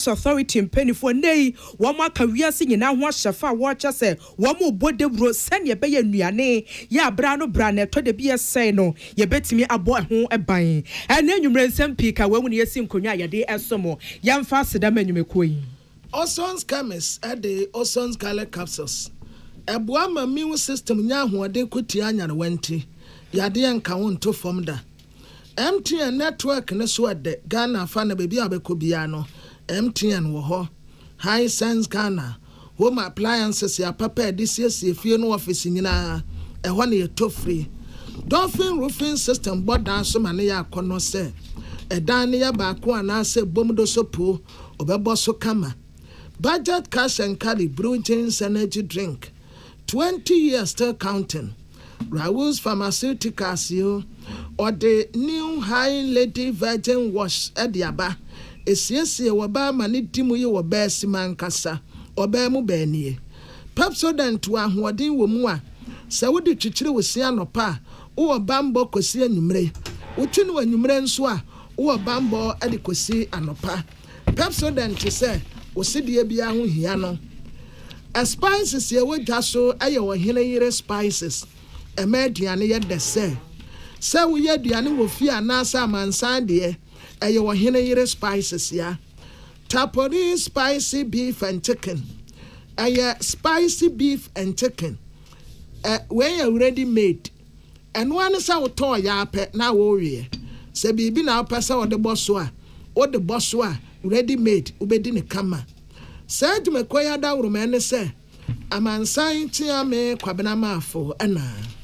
Press Authority mpanimfoɔ nnɛ yi wɔaka wiase nyinaa ho ahyɛfa a wɔrekyɛ sɛ wɔrebɔ dawuro sɛnea ɛbɛyɛ nnuane yɛ abere ano berɛ a na ɛtɔ dabi ɛsɛe no yɛbɛtumi abɔ ɛho ban. Ɛnnɛ anwummerɛ nsɛm pii ka wei ho na yɛasi nkonnwa a yɛde resom. Yɛmfa aseda mma nnwumakuo yi. Ozon's Chemist de Ozon's Garlic Capsules boa ma immune system nya ahoɔden ko tia nyarewa nti yadeɛ nka wo nto fam da. MTN network no so ɛdɛ Ghana afa na baabi a wobɛkɔ biara no MTN wɔ hɔ. Hisense Ghana home appliances yɛ apapa a yɛde siesie fie ne office nyinaa, ɛhɔ na yɛtɔ firi. Dolphin Roofing System bɔ dan so ma no yɛ akɔnnɔ sɛ ɛdan no yɛ baako anaasɛ ɛbom do so po, wɔbɛbɔ so kama. Budget Cash and Carry Brewjeans Energy Drink. Twenty years still counting Raoul's Pharmaceuticals yoo Ɔde new High Lady Virgin Wash de aba Esiesie w'ɔbaa ma ne di mu yi w'ɔbaa si mu ankasa Ɔbaa mu bɛn nie Pepsodent wɔ ahoɔden wɔ mu a Sɛ wode kyikyiri wo se anɔpa a Wo wɔ bammɔ kɔsi anwummere Wotwe no anwummere nso a Wo wɔ bammɔ de kɔsi anɔpa. Pepsodent te sɛ wo sedeɛ biara ho hia no. Spices yɛ wɔ dwa so yɛ ɔhene yere spices ɛma aduane yɛ dɛ sɛ sɛ woyɛ aduane wɔ fie anaasɛ amansan deɛ ɛyɛ ɔhene yere spices ya. Tapori spicy beef and chicken ɛyɛ spicy beef and chicken ɛ wei yɛ ready made. Ɛno ara ne sɛ wotɔɔ yɛ ara pɛ na woweeɛ. Sɛ biribi na wopɛ sɛ wode bɔ so a, wode bɔ so a, ready made, wobɛdi no kama. Saa dwumakuo yi adaworoma ne sɛ, Amansan Kyeame Kwabena Marfo na.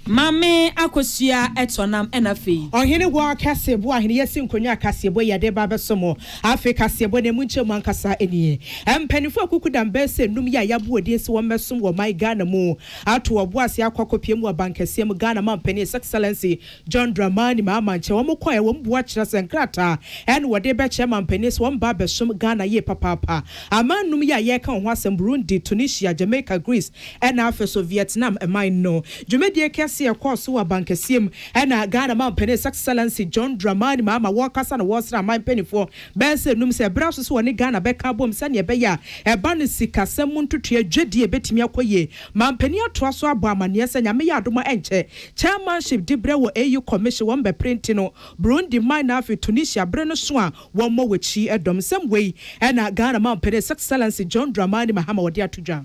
Maame Akosua tɔ nam na afei. Ɔhene hɔ kaseɛbɔ a Aheneyɛ si nkonnwa a kaseɛbɔ yi yɛde reba abɛso mo. Afei kaseɛbɔ no ɛmu nkyɛmu ankasa nie. Mpaninfoɔ a kuku dambɛɛsɛ nnum yi a yɛabɔ wɔn din sɛ wɔmmɛsom wɔ ɔman Ghana mu. ato wɔn bo ase akɔ akɔpia mu wɔ abankɛseɛ mu, Ghana Mampanin His Excellency John Dramani Mahama nkyɛn. Wɔn kɔeɛ, wɔn bua kyerɛsɛ nkrataa ɛna wɔde rebɛkyerɛ mampanin sɛ wɔn ba abɛsom Ghana yie papaapa. Aman nnum yi a yɛreka wɔn ho asɛm, Burundi, Tunisia, Jamaica, Greece ɛna afei nso Vietnam man no. Dwumadie kɛseɛ ɛkɔɔ so wɔ abankɛseɛ mu ɛna Ghana Mampanin His Excellency John Dramani Mahama wɔrekasa na wɔresra aman mpanimfoɔ Bɛyɛ sɛ nnum sɛ ɛbra so sɛ wɔne Ghana bɛka abom sɛnea ɛbɛyɛ a ɛba no sikasɛm mu ntotoeɛ dwadie ɛbɛtumi akɔ yie. Mampanin atoa so abɔ amaneɛ sɛ Nyame yɛ adom a ɛnkyɛ Chairmanship diberɛ wɔ AU Commission wɔn bɛpere nti no Burundi man na afei Tunisia bere no so a wɔmmɔ wɔakyi. Ɛdɔm nsɛm wei na Ghana Mampanin His Excellency John Dramani Mahama ɔde ato dwa.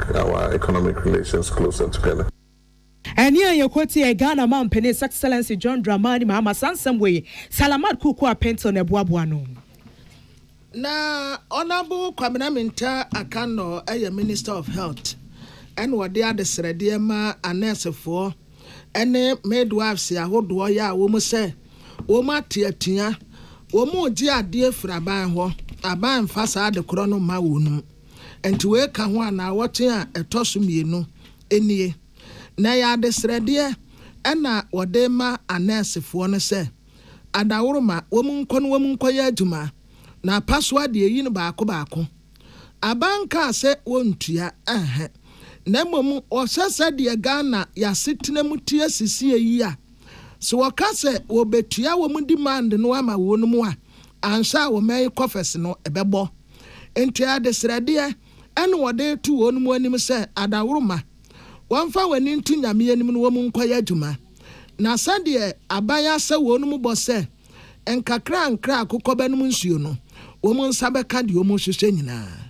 Our economic relations closer together. Ɛnne a yɛkɔ te yɛ Ghana Mampanin His Excellency John Dramani Mahama saa nsɛm wei, Salamat Kuku Apentol na ɛboaboa no. Na Honourable Kwabena Mintah Akannor yɛ Minister of Health ɛna ɔde adesrɛdeɛ ma anɛɛsefoɔ ɛne midwives ahodoɔ yɛ a wɔn sɛ wɔn ate atua, wɔn regye adeɛ firi aban hɔ, aban mfa saa adekorɔ no mma wɔn. Enti wei ka ho a naawɔtwe a ɛtɔ so mmienu nie. Na ɛyɛ adesrɛdeɛ na wɔde rema anɛɛsefoɔ no sɛ adaworoma wɔn nkɔ na wɔn nkɔyɛ adwuma na apasoa deɛ yi no baako baako. Aba nkaa sɛ wɔntua ɛhɛ na mmom wɔhyɛ sɛdeɛ Ghana y'asetena mu teɛ sesie yi a sɛ wɔka sɛ wɔbɛtua wɔn demand no ama wɔn mu a Anhwɛ a wo mmɛn kɔfɛse no bɛbɔ. Enti adesrɛdeɛ ɛne wɔde reto wɔn mu anim sɛ, adaworoma, wɔmfa wɔn ani nto Nyame anim na wɔn nkɔyɛ adwuma. Na sɛdeɛ aban asɛ wɔn mu bɔ sɛ, nkakrankra a akokɔ bɛnom nsuo no, wɔn nsa bɛka deɛ wɔn rehwehwɛ nyinaa.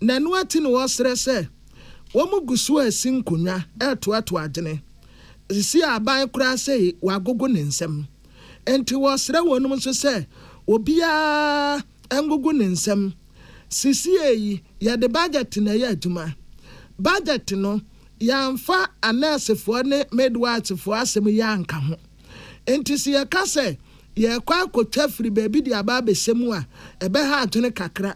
na ɛno akyi no wɔsrɛ sɛ wɔgu so resi nkonnwa retoatoa adwene. Sisi aban koraa sɛ wɔagogo ne nsam. Enti wɔsrɛ wɔnom nso sɛ obiara ngogo ne nsam. Sesie yi yɛde budget na ɛyɛ adwuma. Budget no yɛamfa anɛɛsefoɔ ne midwifefoɔ asɛm yi anka ho. Enti sɛ yɛka sɛ yɛrekɔ akɔtwa firi baabi de aba abɛhyɛ mu a ɛbɛha adwene kakra.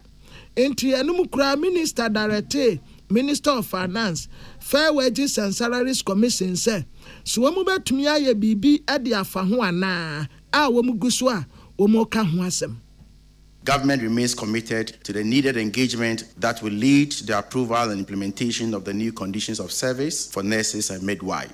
Enti ɛno mu koraa Minister darɛtee Minister of Finance, Fair Wages and Salaries Commission sɛ so wɔn bɛtumi ayɛ biribi de afa ho anaa a wɔn gu so a wɔreka ho asɛm. Government remains committed to the needed engagement that will lead to the approval and implementation of the new conditions of service for nurses and midwives.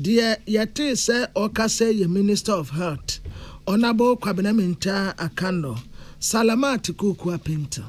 Deɛ yɛtee sɛ ɔrekasa yi yɛ Minister of Health, Honourable Kwabena Mintah Akandor, Salamat Kukua Pinto.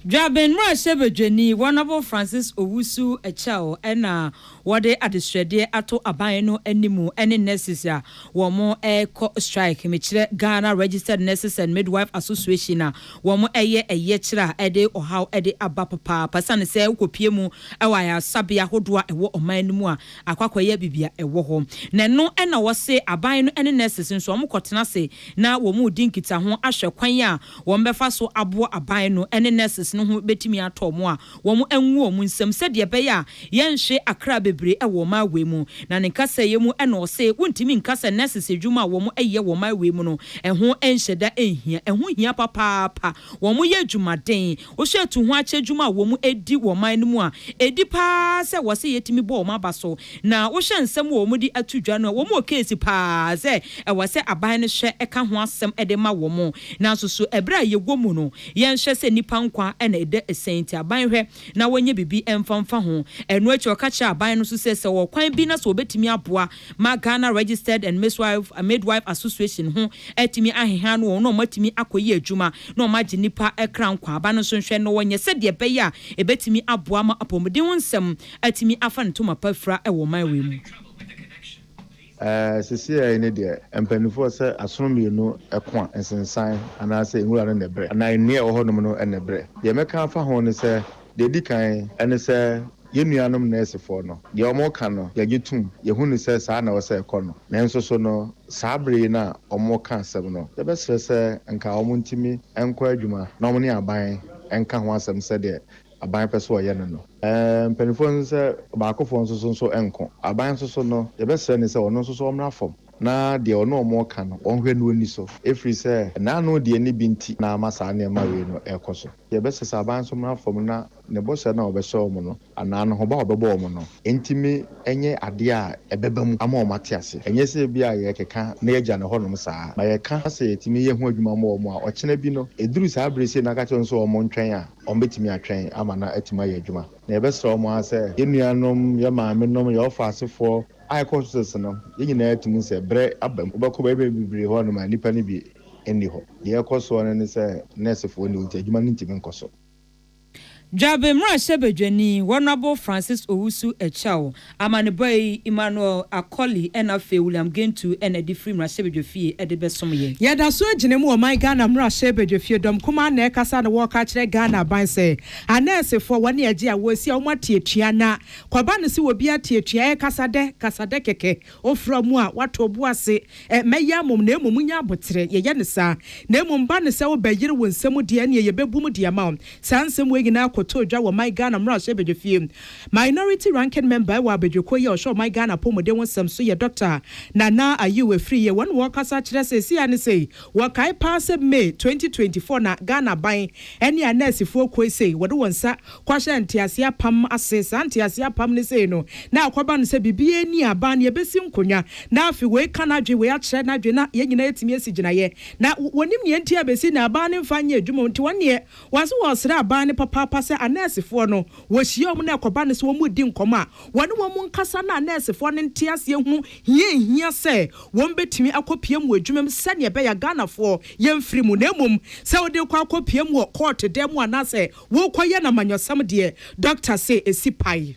Dwaben mmarahyɛbadwani, Honourable Francis Owusu Akyɛw na wɔde adesrɛdeɛ ato aban no anim ne nurses a wɔrekɔ strike. Mekyerɛ Ghana Registered Nurses and Midwife Association a Wɔyɛ ɛyɛkyerɛ a ɛde ɔhaw de aba papaapa esiane sɛ wokopue mu wɔ ayaresabea ahodoɔ a ɛwɔ ɔman no mu a akɔ akɔyɛ biribi a ɛwɔ hɔ. Na ɛno na wɔse aban no ne nurses nso wɔkɔtena ase na wɔredi nkitaho ahwɛ kwan a wɔbɛfa so aboa aban no ne nurses no ho bɛtumi atɔ wɔn a wɔn ngu wɔn nsam sɛdeɛ ɛbɛyɛ a yɛnhwe akra bebree wɔ ɔman wei mu. Na ne nkasɛeɛ mu na ɔse wontumi nka sɛ nurses adwuma a wɔn yɛ wɔ ɔman wei mu no ɛho nhyɛ da nhia, ɛho hia papaapa, wɔn yɛ adwumaden, wohwɛ atu ho akyɛ adwuma a wɔn di wɔ ɔman no mu a ɛdi paa sɛ wɔse yɛtumi bɔ wɔn aba so, na wohwɛ nsɛm a wɔn de ato dwa no a wɔn wɔ case paa sɛ ɛwɔ sɛ aban no hwɛ ka ho asɛm de ma wɔn, nanso so ɛberɛ a yɛwɔ mu no Yɛnhwɛ sɛ nnipa nkwa na ɛda asiane nti aban hwɛ na wɔnyɛ biribi mfa mfa ho. Ɛno akyi ɔka kyerɛɛ aban no nso sɛ sɛ wɔ kwan bi na sɛ wɔbɛtumi aboa ma Ghana Registered and Miswife, Midwife Association ho atumi aheha no wɔn na wɔatumi akɔyɛ adwuma na wɔagye nnipa kra nkwa a, aban no nso nhwɛ na wɔnyɛ sɛdeɛ ɛbɛyɛ a ɛbɛtumi aboa ma apɔmuden ho nsɛm atumi afa ne ntoma pa afira wɔ ɔman wei mu. Ɛɛ, seesei no deɛ, mpanimfoɔ sɛ asono mmienu ko a, nsensan anaasɛ nwura no na ɛbrɛ anaa nnua a ɛwɔ hɔnom no na ɛbrɛ? Deɛ mɛka afa ho ne sɛ, deɛ ɛdi kan ne sɛ yɛn nuanom nɛɛsefoɔ no, deɛ wɔka no, yɛgye tom, yɛhu no sɛ saa na ɛwɔ sɛ ɛkɔ no. Nanso so no, saa bere yi no a wɔreka asɛm no, yɛbɛsrɛ sɛ nka wɔntumi nkɔ adwuma na wɔne aban nka ho asɛm sɛdeɛ aban pɛ sɛ ɔyɛ no no. Mpanimfoɔ no sɛ baakofoɔ nso so nso nko. Aban nso so no, yɛbɛsrɛ no sɛ ɔno nso so ɔmmra fam na deɛ ɔne wɔn reka no, ɔnhwɛ na ɔnni so. Ɛfiri sɛ, n'ano deɛ ne bi nti na ama saa nneɛma wei no rekɔ so. Yɛbɛsrɛ sɛ aban nso mmra fam na ne bɔhyɛ no a ɔbɛhyɛ wɔn no anaa ne hoba a ɔbɛbɔ wɔn no ntumi nyɛ adeɛ a ɛbɛba mu ama wɔn ate ase. Ɛnyɛ sɛ ebia yɛrekeka na yɛagya no hɔnom saa. Ma yɛka sɛ yɛtumi yɛ ho adwuma ma wɔn a, ɔkyena bi no, ɛduru saa berɛ sei na aka kyerɛ wɔn sɛ wɔntwɛn a, wɔbɛtumi atwɛn ama no atumi ayɛ adwuma. Na yɛbɛsrɛ wɔn ara sɛ yɛn nuanom, yɛn maamenom, yɛn ɔfa asefoɔ a yɛkɔ hospitals no, yɛn nyinaa tumi sɛ berɛ aba mu. Wobɛkɔ baabi bebree hɔ nom a nnipa no bi nni hɔ. Deɛ ɛkɔ soɔ no ne sɛ nɛɛsefoɔ nni hɔ nti adwuma no ntumi nkɔ so. Dwabin mmarahyɛbadwani, Honourable Francis Owusu Akyɛw, Amanebɔ yi, Emmanuel Akoli na afei William Gentu na de firi mmarahyɛbadwafie de bɛsom yɛ. Yɛda so gyina mu ɔman Ghana mmarahyɛbadwafie dɔm kumaa na ɛkasa na wɔreka akyerɛ Ghana aban sɛ anɛɛsefoɔ wɔne agye a wɔresi a wɔn ate atua na kɔba no sɛ obiara te atua ɛyɛ kasa dɛ kasa dɛ kɛkɛ ofra mu a wato bo ase ɛ mɛyɛ amom na mmom nyɛ aboterɛ yɛyɛ no saa na mmom ba no sɛ wobɛ yere wo nsɛm deɛ ɛneɛ yɛbɛbu mu de ama wo saa nsɛm wei nyinaa kɔtɔɔ dwa wɔ ɔman Ghana mmarahyɛbadwafie Minority Ranking Member wɔ abadwokuo yi a ɔhwɛ ɔman Ghana apɔmuden ho nsɛm so yɛ Doctor Nana Ayew Afriyie. Wɔn na wɔrekasa kyerɛ seesei a ne sei. Wɔkae paa sɛ May twenty twenty four na Ghana aban ne anɛɛsefoɔ kuo yi sei wɔde wɔn nsa kɔhyɛɛ nteaseɛ apam ase. Saa nteaseɛ apam no sei no na akɔba no sɛ biribiara nni a aban no yɛbɛsi nkonnwa na afei wei ka n'adwene wei akyerɛ n'adwene na yɛn nyinaa atumi asi gyinaeɛ na wɔnim deɛ nti a bɛsi na aban no mfa nyɛ adwuma nti wɔn deɛ Wɔse wɔresrɛ aban no papaapa sɛ anɛɛsefoɔ no wɔhyia wɔn na ɛkɔba no sɛ wɔredi nkɔmmɔ a, wɔne wɔn nkasa na anɛɛsefoɔ no nte aseɛ hunu hia a ɛhia sɛ wɔbɛtumi akɔpia mu wɔ adwuma mu sɛdeɛ ɛbɛyɛ a Ghanafoɔ yɛmfiri mu na mmom sɛ wode rekɔ akɔpia mu wɔ kɔɔto dan mu anaasɛ worekɔyɛ no amanyɔsɛm deɛ Dɔkta se ɛsi pae.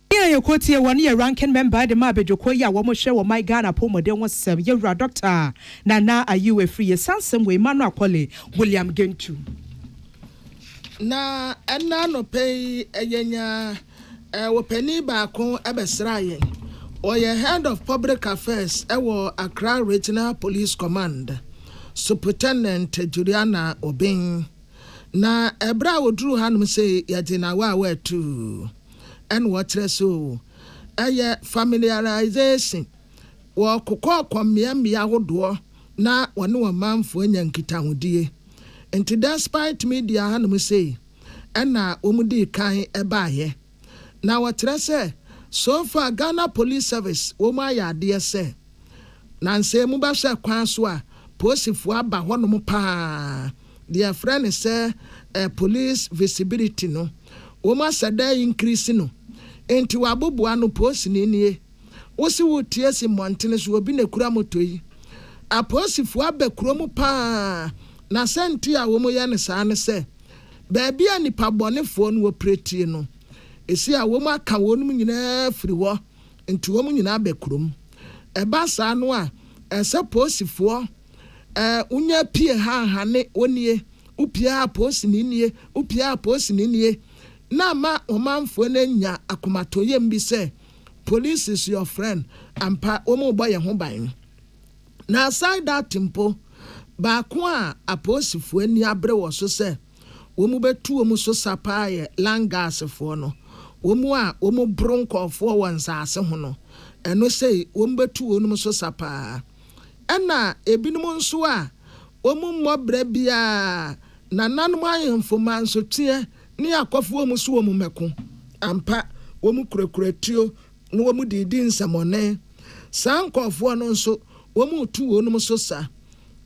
Nea yɛkɔ tie wɔ ne yɛ ranking member de ma abadwokuo yi a wɔn hwɛ wɔ man Ghana apɔwmuden ho sɛm, yɛwura Dɔkta Nana Ayew Afiri yɛsansɛm wɔ Emmanuel Kɔle William Gentu. Na ɛnna anɔpa yi yɛnya wɔpanin baako bɛsraa yɛn, ɔyɛ Head of Public Affairs wɔ Accra Regional Police Command, Supritendent Juliana Obeng. Na ɛberɛ a ɔduruu hanom sei yɛgye no awaa awaa tuu. ɛna wɔkyerɛ so oo, ɛyɛ familiarisation, wɔkokɔɔkɔ mmea mmea ahodoɔ na wɔne wɔn manfoɔ nya nkitahodie. Nti despite media hanom sei, ɛna wɔn dii kan baeɛ. Na wɔkyerɛ sɛ so far Ghana Police Service wɔn ayɛ adeɛ sɛ. Nansɛ mu bɛhwɛ kwan so a, poosifoɔ aba hɔnom pa ara. Deɛ yɛfrɛ no sɛ police visibility no, wɔn asɛ dɛ increase no. Enti wɔabobo ano, poosini nie, wo se woretu asi mmɔntene so, obi na ɛkura moto yi. Apoosifoɔ aba kuro mu pa ara. Na sɛ nti a wɔyɛ no saa ne sɛ, baabi a nnipa bɔnefoɔ no wɔpiratie no, ɛsi a wɔaka wɔnom nyinaa firi hɔ. nti wɔn nyinaa bɛ kurom. Ɛba saa no a, ɛsɛ poosifoɔ ɛɛ wonya pie ha ha ne wonie, wopie ha a poosini nie, wopie ha a poosini nie, na ama ɔmanfoɔ no anya akomatɔyam bi sɛ police is your friend, ampa wɔn rebɔ yɛn ho ban. Na aside that mpo, baako a apoosifoɔ ani abere wɔ so sɛ, wɔn bɛtu wɔn so sa paa yɛ Langasfoɔ no, wɔn a wɔboro nkɔɔfoɔ wɔ nsaase ho no, ɛno sei wɔn bɛtu wɔnom so sa paa. Ɛna ebinom nso a wɔn mmɔ berɛ biara nananom ahenfo mansoteɛ ne akɔfo wɔn so wɔn mmɛko, ampa wɔn kurakura tuo na wɔn de redi nsɛmɔne, saa nkɔɔfoɔ no nso wɔn retu wɔnom so sa.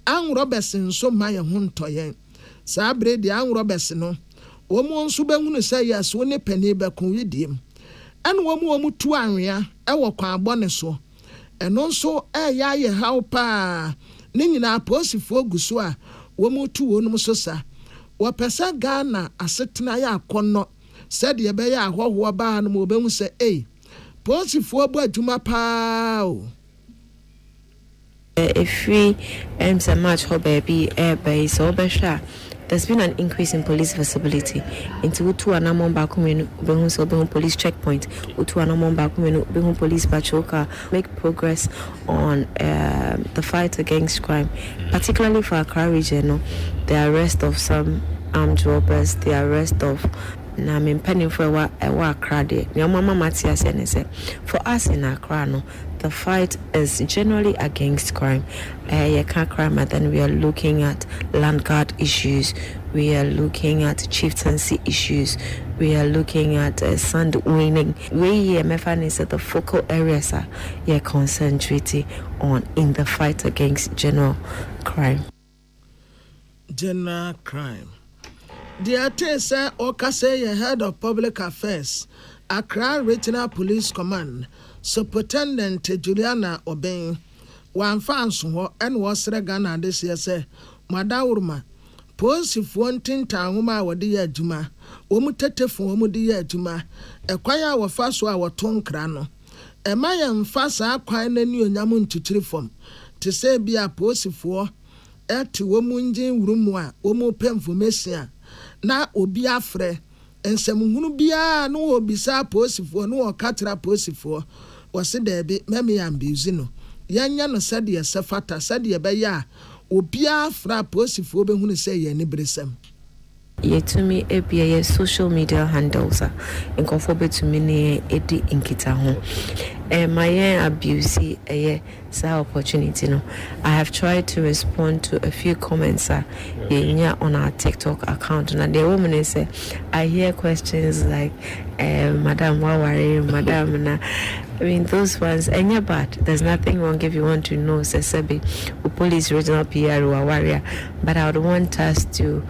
Anworɔbɛse nso mma yɛn ho ntɔ yɛn. Saa bere deɛ anworɔ bɛse no, wɔn nso bɛhunu sɛ yes wo ne panin bɛko wedeɛm. Ɛna wɔn wɔn tu anwea wɔ kwan bɔne so. Ɛno nso reyɛ ayɛ haw pa ara. Ne nyinaa apolisifoɔ gu so a wɔn retu wɔnom so sa. Wɔpɛ sɛ Ghana asetena yɛ akɔnnɔ sɛdeɛ ɛbɛyɛ a ahɔhoɔ baa no ma wɔbɛhu sɛ ei, polisifoɔ bɔ adwuma pa ara o. Ɛfiri ɛyɛm sɛ March hɔ baabi reba yi, sɛ wobɛhwɛ a, there's been an increase in police visibility. Nti wotu anammɔn baako mmienu, wobɛhu sɛ wobɛhu police checkpoint. Wotu anammɔn baako mmienu, wobɛhu police patrol car. Make progress on um, the fight against crime, particularly for Accra region no, the arrest of some armed robbers, the arrest of na me mpanimfoɔ ɛwɔ ɛwɔ Accra deɛ, nea wɔama mate aseɛ ne sɛ, for us in Accra no, The fight is generally against crime, ɛɛ yɛka crime a then we are looking at land guard issues, we are looking at chieftaincy issues, we are looking at sand winning, wei yɛ mɛfa no sɛ the focal areas a yɛ concentrate on in the fight against general crime. General Crime. Deɛ yɛtee sɛ ɔrekasa yi yɛ Head of Public Affairs, Accra Regional Police Command, Supotendent Juliana Obeng. Wamfa anso hɔ na ɔsrɛ Ghana adehyeɛ sɛ, Mo adaworoma, Polisifoɔ ntintan nwoma a wɔde yɛ adwuma, wɔn tetefon a wɔde yɛ adwuma, ɛkwan a wɔfa so a wɔto nkra no, Mma yɛmmfa saa kwan no anuonyam nkyekyere fam, te sɛ ebia apolisifoɔ te wɔn engine wuru mu a wɔrepɛ nfomesia na obi afrɛ nsɛmhunu biara no wɔrebisa apolisifoɔ no wɔreka kyerɛ apolisifoɔ wɔse daabi ma me ambiuse no yɛnyɛ no sɛdeɛ ɛsɛ fata sɛdeɛ ɛbɛyɛ a obiara frɛ apolisifoɔ bɛhunu sɛ ɛyɛ aniberesɛm. Yɛtumi abue yɛn social media handles a nkurɔfoɔ bɛtumi ne yɛn adi nkitaho. Ɛmma yɛn abuse ɛyɛ saa opportunity no. I have tried to respond to a few comments a yɛnya on our TikTok account. Na deɛ ɛwɔ mu ne sɛ, I hear questions like eh, madam woaware? Madam na I mean those ones ɛnyɛ bad. There's nothing wrong if you want to know sɛ sɛbe wo police regional PR waware a, but I would want us to.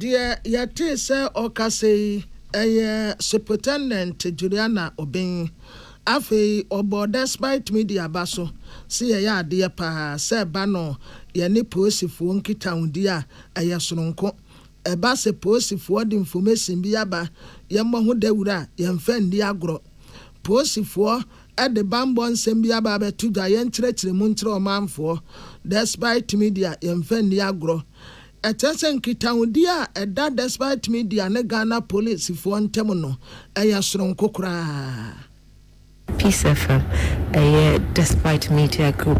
Deɛ yɛtee sɛ ɔrekasa yi yɛ Superintendent Juliana Obeng. Afei ɔbɔɔ Despite Media ba so se yɛyɛ adeɛ paa sɛ ɛba no yɛne polisifoɔ nkitahodie a ɛyɛ sononko. Ɛba sɛ polisifoɔ de information bi aba yɛmmɔ ho dawuro a yɛmfa nni agorɔ. Polisifoɔ de bammɔ nsɛm bi aba abɛto dwa yɛn nkyerɛkyerɛmu nkyerɛ ɔmanfoɔ Despite Media Yɛmfa Nni Agorɔ Ɛkyerɛ sɛ nkitahodi a ɛda Despite Media ne Ghana Polisifoɔ ntam no yɛ soronko koraa. Peace FM yɛ Despite Media Group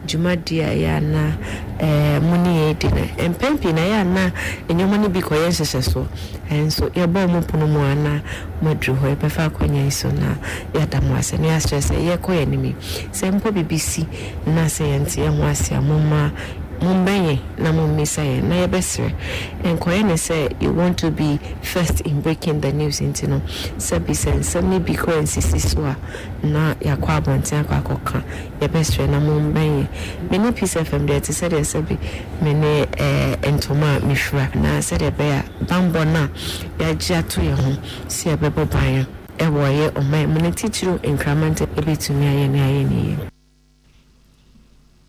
dwumadi a ɛyɛ a na mo ne yɛn redi no, mpɛn pii no ɛyɛ a na nneɛma no bi kɔyɛ nhyehyɛsoɔ. Nanso yɛbɔɔ mo pono mu a na moaduru hɔ. Yɛbɛfa akwannya yi so na yɛada mo ase na yɛasrɛ sɛ yɛrekɔ yɛn anim yi, sɛ mpo biribi si na sɛ yɛnte yɛn ho ase a, momma mommɛn yɛn na mommisa yɛn na yɛbɛsrɛ. Ɛnkɔyɛ no sɛ you want to be first in breaking the news nti no, sɛbi sɛ nsɛm no bi kɔ ansisi so a, na yɛakɔ abɔnten akɔ akɔka. Yɛbɛsrɛ na mommɛn yɛn. Me ne Peace FM deɛ ɛte sɛdeɛ sɛbe me ne ɛɛ ntoma a mefira na sɛdeɛ ɛbɛyɛ a bammɔ no a yɛagye ato yɛn ho sɛ yɛbɛbɔ ban no wɔ ɛyɛ ɔman mu no titiriw Nkrama ntam ɛbɛtumi ayɛ nea ayɛ no yie.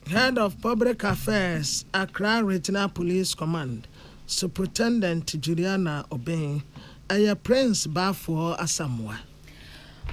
Head of Public Affairs, Accra Regional Police Command, Superintendent Juliana Obeng, Ɛyɛ Prince Baafoɔ Asamoah.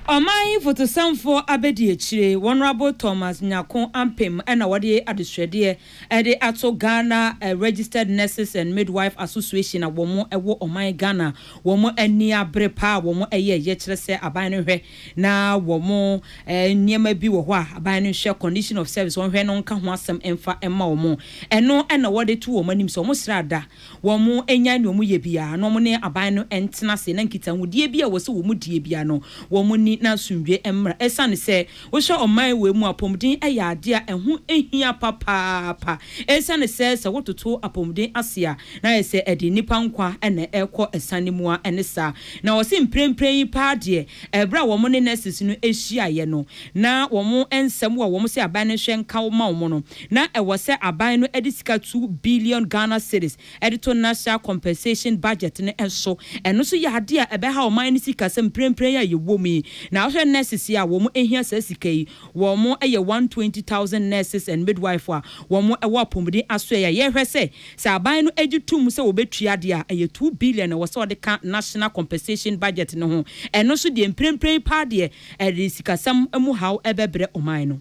Ɔman yi fotosanfoɔ abɛdiakyire Wɔnrabo Thomas Nyarko Ampem na wɔde adesrɛdeɛ de ato Ghana Registered Nurses and Midwife Association a wɔn wɔ ɔman Ghana wɔn ani abere paa a wɔn yɛ yɛ kyerɛ sɛ aban no hwɛ na wɔn nneɛma bi wɔ hɔ a aban no nhwɛ condition of service wɔn hwɛ no nka ho asɛm mfa mma wɔn ɛno na wɔde to wɔn anim sɛ wɔn srɛ ada Wɔnnyae nea wɔyɛ biara na wɔne aban no ntena ase na nkitahodie biara a ɛwɔ sɛ wɔdie biara no, wɔnni na asomdwoeɛ mmra. Ɛsiane sɛ wohwɛ ɔman wei mu a, apɔmuden yɛ adeɛ a ɛho hia papaapa. Ɛsiane sɛ sɛ wototo apɔmuden ase a, na ayɛ sɛ ɛde nnipa nkwa na ɛrekɔ asiane mu ara ne saa. Na wɔse mprempren yi paa deɛ, ɛberɛ a wɔne nurses no hyiaeɛ no, na wɔn nsɛm a wɔn sɛ aban no nhwɛ nka ma wɔn no, na ɛwɔ sɛ aban no de sika two billion Ghana cedis de to National Compensation Budget no so. Ɛno nso yɛ adeɛ a ɛbɛha ɔman no sikasɛm mprempren a yɛwɔ mu yi. Na wohwɛ nurses yi a wɔhia saa sika yi, wɔyɛ one hundred twenty thousand nurses and midwife a wɔwɔ apɔmuden asoɛe a yɛhwɛ sɛ, sɛ aban no gye tom sɛ wɔbɛtua deɛ a, ɛyɛ two billion na ɛwɔ sɛ wɔde ka National Compensation Budget no ho. Ɛno nso deɛ mprempren paa deɛ ɛde sikasɛm mu haw bɛbrɛ ɔman no.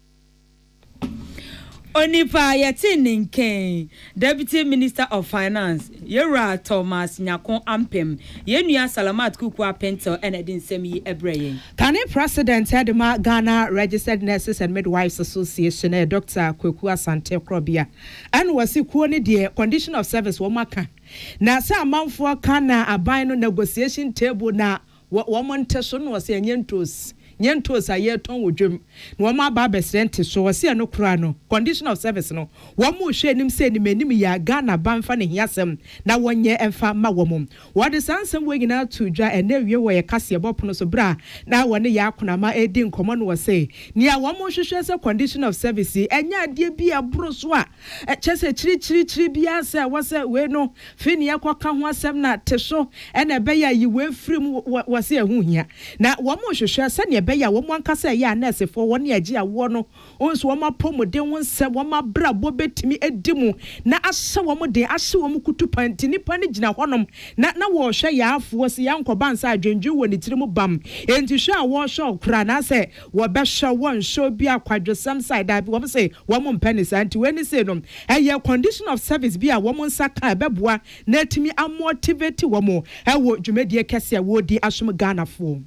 Onipa a yɛtee ne nkɛn, Deputy Minister of Finance, Yɛwura Thomas Nyarko Ampem, yɛn nua Salamat Kuku Apentil na ɛde nsɛm yi brɛɛ yɛn. Kane President de ma Ghana Registered Nurses and Midwives Association yɛ Doctor Kweku Asante Korɔbea ɛna ɔse kuo no deɛ condition of service wɔn aka na sɛ amanfoɔ ka na aban no negotiation table na Wɔ wɔn nteso no ɔse ɛnyɛ ntoos, nyɛ ntoos a yɛtɔn wɔ dwam na wɔn aba abɛsrɛ nteso. Ɔse ɛno koraa no, condition of service no, wɔn rehwɛ anim sɛ anim anim yi a Ghana ba mfa n'ahiasɛm na wɔnyɛ mfa mma wɔn. Wɔde saa nsɛm wei nyinaa too dwa ɛna awie wɔ yɛn kaseɛbɔ pono so berɛ a na wɔne yɛn akonama redi nkɔmmɔ no ɔse nea wɔn rehwehwɛ sɛ condition of service yi ɛnyɛ adeɛ bi a ɛboro so a Ɛkyɛ sɛ kyirikyirikyiri biara sɛ ɛwɔ sɛ wei no fi nea ɛkɔka ho asɛm na te so na ɛbɛyɛ a yi wei firi mu. Wɔ, wɔse ɛho hia. Na wɔrehwehwɛ sɛnea ɛbɛyɛ a wɔn ankasa a ɛyɛ anɛɛsefoɔ, wɔn a ɛgye awoɔ no nso, wɔn apɔmuden ho nsɛm, wɔn abrabɔ bɛtumi adi mu na ahyɛ wɔn den, ahye wɔn kutupa. Nti nnipa no gyina hɔnom na, na wɔrehwɛ yaafoɔ, sɛ yaankɔba ansa a adwendwen wɔ ne tiri mu bam. Enti hwɛ a wɔrehwɛ ɔkora anaasɛ Wɔbɛhwɛ wo nhwɛ obi a kwadwesɛm sae? Dabi, wɔn se wɔn mpɛ ne saa. Nti wei ne sei no, ɛyɛ condition of service bi a wɔn nsa ka a ɛbɛboa na atumi a motivate wɔn wɔ dwumadie kɛseɛ a wɔredi asom Ghanafoɔ.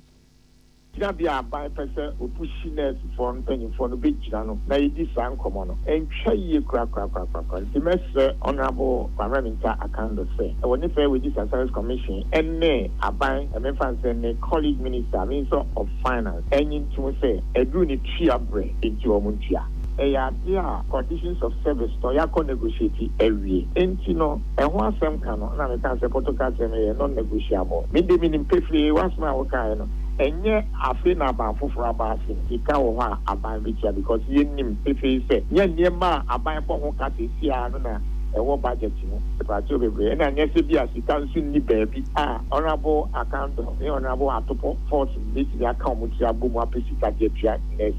Gyinabea a aban pɛ sɛ ɔbu hyi nɛɛsefoɔ mpanyinfoɔ no bɛgyina no na yɛdi saa nkɔmmɔ no ɛntwa yie korakorakorakorakora. Nti mɛsrɛ Honourable Kwame Mintah Akando sɛ wɔ ne Fair Wages and Salaries Commission ne aban, ɛmfa ne sɛ ne colleague minister, Minister of Finance, Enyi ntom sɛ aduru no tua brɛ nti wɔn ntua. Ɛyɛ adeɛ a conditions of service no yɛakɔ negotiate awie nti no ɛho asɛm ka no na mekaa sɛ Porto Castle no yɛ non negotiable. Me deɛ menim pefee w'asem a wokaeɛ no ɛnyɛ afei na aban foforɔ aba ase no sika wɔ hɔ a aban bɛtua because yɛnim pefee sɛ nyɛ nneɛma a aban bɔ ho ka seesei ara no na ɛwɔ budget mu mpakyɛw bebree na nyɛ sɛ bi a sika nso nni baabi a Honourable Akandor ne Honourable Atupor fought betumi aka wɔn tiri abɔ mu apɛ sika de atua nurse.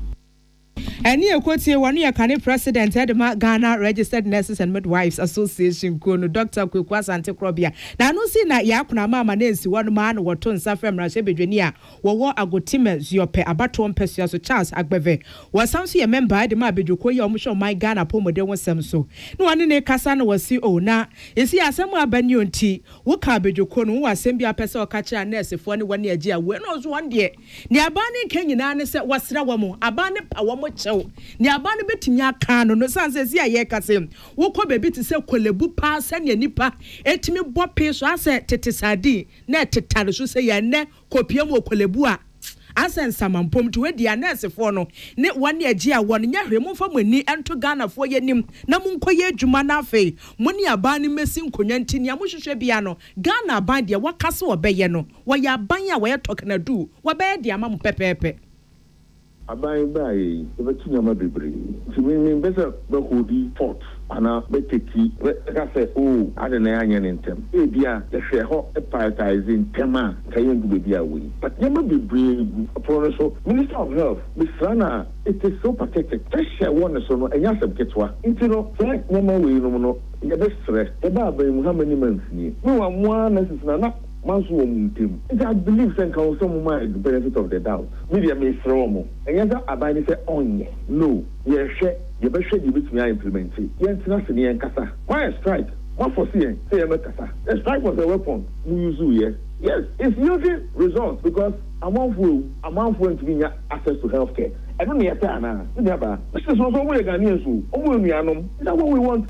Ɛne ɛkɔtie wɔn yɛ kane president ɛde ma Ghana Registered Nurses and Midwives Association kuo no Doctor Kweku Asante Korɔbea na ɛno nso na yɛ akona ama ama no ansi hɔ no maa no wɔto nsa frɛ mmarahyɛ bedwani a wɔwɔ Agotime Zuope abatoɔ mpɛsua so Charles Agbeve wɔsan nso yɛ mɛmba ɛde ma abadwokuo yi a wɔhwɛ ɔman Ghana apɔmuden ho sɛm so na wɔne ne kasa na wɔsi o na esi asɛm a aba ni o nti Wo ka abadwokɔ no, wowɔ asɛm bi a wopɛ sɛ ɔka kyerɛ a nɛɛsefoɔ ne wɔne agye awoɔ ɛna ɔso wɔn deɛ deɛ aban no nka nyinaa ne sɛ wɔsra wɔn aban no pa wɔn kyɛw deɛ aban no bɛtumi akaa no no sane sɛ si a yɛka sɛ wokɔ baabi te sɛ kɔlɛbu paa sɛnea nipa ɛtumi bɔ pee so asɛ tete sardine na ɛtetare so sɛ yɛ ɛnɛ kɔpia mu wɔ Korlebu a, ansa nsama mpom nti wei deɛ anɛɛsefoɔ no ne wɔn agye a wɔn nyɛ hwee momfa mo ani nto Ghanafoɔ yɛ anim na monkɔ yɛ adwuma na afei mo ne aban no mmɛsi nkonnwa nti nea mohwehwɛ biara no Ghana aban deɛ wɔka sɛ wɔbɛyɛ no wɔyɛ aban a wɔyɛ tɔkena duu wɔbɛyɛ de ama mo pɛpɛɛpɛ. Aban baeɛ yi yɛbɛto nneɛma bebree nti me mempɛ sɛ mɛ holdi fort anaa mɛ teki mɛ ka sɛ oo adɛn na yɛanyɛ no ntɛm ebia yɛhwɛ hɔ prioritise ntɛm a nka yɛndu baabi a wei but nneɛma bebree gu pono no so minister of health mesra no a it is so pathetic pressure a ɛwɔ ne so no ɛnyɛ asɛm ketewa nti no saa nneɛma wei nom no yɛbɛsrɛ yɛba aban mu how many months nie mewa mo ara nurses na na Manso wɔn ntam. Nti I believe sɛ nka ɔsɛ ɔmo ma yɛ benefit of the doubt. Me deɛ mesrɛ ɔmo. Ɛnyɛ sɛ aban no sɛ ɔnyɛ. No. Yɛhwɛ. Yɛbɛhwɛ deɛ yɛbɛtumi a implementi. Yɛntena ase na yɛnkasa. Moayɛ strike. Moafɔse yɛn sɛ yɛmmɛkasa. The strike was a weapon mo useeɛ. Yes, it's yielding results because amanfoɔ awu. Amanfoɔ ntumi nnya access to health care. Ɛno na yɛpɛ anaa? Me nuabaa. Mese so nso ɔmo yɛ Ghanaians o. Ɔmo yɛ nuanom. Is that what we want?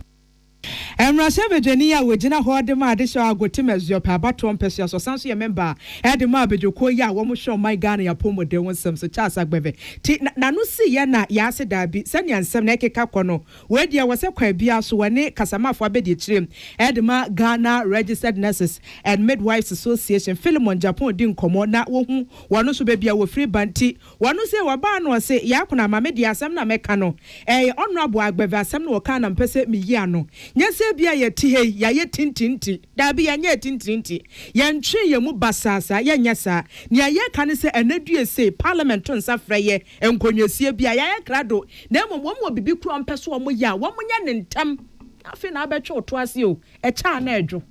Mmarahyɛbadwani a ɔgyina hɔ de ma Adesewa Ago te Masuape abatoɔ mpɛsoa so, ɔsan nso yɛ mɛmba a de ma abadwakuo yi a wɔhwɛ ɔman Ghana yi apɔmuden ho nsɛm so, Charles Agbeve te n'ano si yɛ na yɛ ase daabi sɛnea nsɛm no ɛkeka kɔ no wei deɛ wɔ sɛ kwan biara so wɔne Kasamafoɔ abɛdi akyire de ma Ghana Registered Nurses and Midwives Association Philemon Japan di nkɔmmɔ na wɔhu wɔn nso baabi a wɔfiri ba nti Wɔno se wɔbaa no ɔse Yakuna ma me deɛ asɛm na mɛka no ɛyɛ honourable Agbeve asɛm na ɔkaa na mpɛ sɛ meyi ano nyɛ sɛ ebia yɛte ha yi yɛayɛ tintini nti daabi yɛnyɛɛ tintini nti yɛntwee yɛn mu basaa saa yɛnyɛ saa nea yɛreka ne sɛ ɛnɛ due sei parliament to nsa frɛ yɛ nkɔnwasie bi a yɛayɛ krado na mmom wɔn wɔ biribi koro a wɔpɛ sɛ wɔyɛ a wɔnyɛ no ntɛm na afei na abɛtwe wo to ase o ɛkyɛ a na ɛdwo.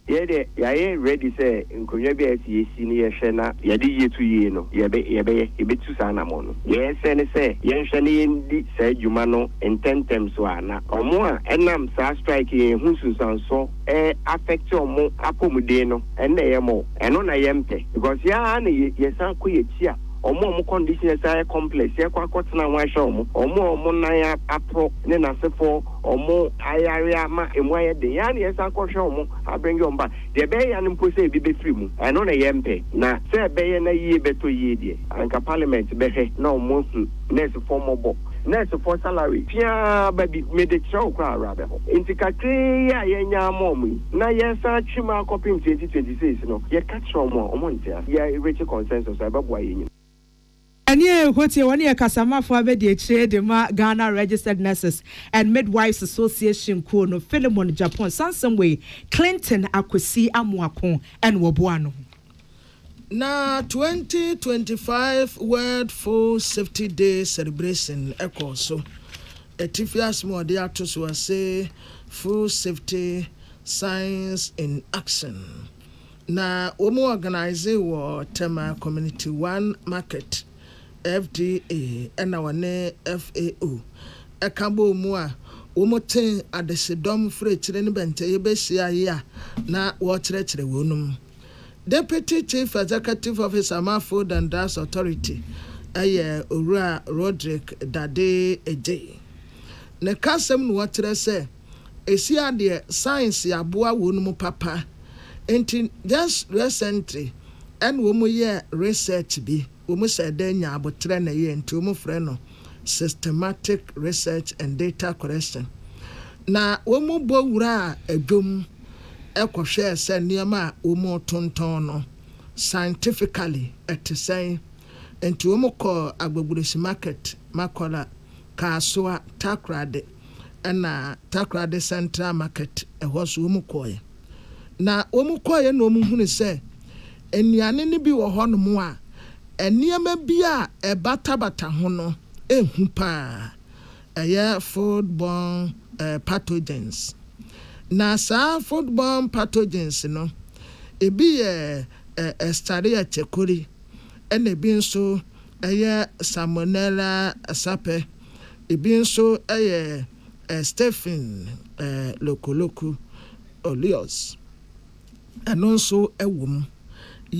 Yɛ deɛ yayɛ ready sɛ nkonnwa bi a ɛsɛ yɛsi no yɛhwɛ na yɛde yie to yie no yɛbɛ yɛbɛyɛ yɛbɛtu saa anamɔn no deɛ ɛsɛ ne sɛ yɛnhwɛ na yɛndi saa dwuma no ntɛntɛm so a na wɔn a ɛnam saa strike yi ho nsunsuansoɔ ɛ affect wɔn apɔmuden no ɛno na ɛyɛ more ɛno na yɛmpɛ because yɛ ara na yɛ yɛsan kɔ yɛakyi a wɔn a wɔn condition ɛsan yɛ complex yɛkɔ akɔtena ho ahwɛ wɔn wɔn a wɔn nan a aporɔ ne nasefoɔ wɔn ayare ama emu ayɛ den, yɛn ara na yɛsan kɔhwɛ wɔn abrɛngye wɔn ba. Deɛ ɛbɛyɛ yɛn ara no mpo sɛ ebi bɛfiri mu, ɛno na yɛmpɛ. Na sɛ ɛbɛyɛ na yie bɛtɔ yie deɛ, anka Parliament bɛhwɛ na wɔahu nɛɛsefoɔ mmɔbɔ. Nɛɛsefoɔ salary piaa ba bi, mede kyerɛ wo koraa awerɛ abɛho. Enti kakraa yi a yɛanya ama wɔn yi, na yɛresan atwe mu akɔpem 2026 no, yɛka kyerɛ wɔn a, wɔnte ase. Yɛrerekye consensus a ɛbɛboa yɛn nyinaa. Ɛne a ɛkɔ tie, wɔne yɛ kasamafo abɛdiakyire de ma Ghana Registered Nurses and Midwives Association kuo no Philemon Japhon sansɛm wei Clinton Akwasi Amoako na wɔboaa no ho. Na twenty twenty five World Food Safety Day celebration kɔɔ so. Atifi asɛm a wɔde ato so ara se Food Safety, Science in Action. Na wɔn ɔganise wɔ Tema Community One Market, FDA, ɛna wɔne FAO ɛka bɔɔ mu a wɔn te adesedɔm frɛkyire ne bɛntɛyɛ bɛhyia yi a na wɔrekyerɛkyerɛ wɔnom. Deputy Chief Executive Officer ma Food and Drugs Authority ɛyɛ Owura Rodrick Dade Adjei ne kasam na ɔkyerɛ sɛ, ehyia deɛ science aboa wɔn mu papa nti just recently ɛna wɔn yɛɛ research bi wɔn sɛ dɛn nya aboterɛ na ɛyɛ nti wɔn frɛ no systematic research and data collection na wɔn bɔ wuraa adwom kɔ hwɛɛ sɛ nneɛma a wɔn retontɔn no scientifically ɛte sɛn nti wɔn kɔɔ Agbogurusi market, Makola, Kasoa, Takoradi. ɛna Takoradi Central Market ɛhɔ so wɔn kɔɔɛ. Na wɔn kɔɔɛ na wɔn hunu sɛ nnuane no bi wɔ hɔ nom a nneɛma bi a ɛbatabata ho no ɛhu paa. Ɛyɛ food born pathogens. Na saa food born pathogens no ɛbi yɛ Escherichia coli ɛna ɛbi nso ɛyɛ Salmonella sapɛ. Ebi nso yɛ Stephen Lokoloko Olios, ɛno nso wɔ mu.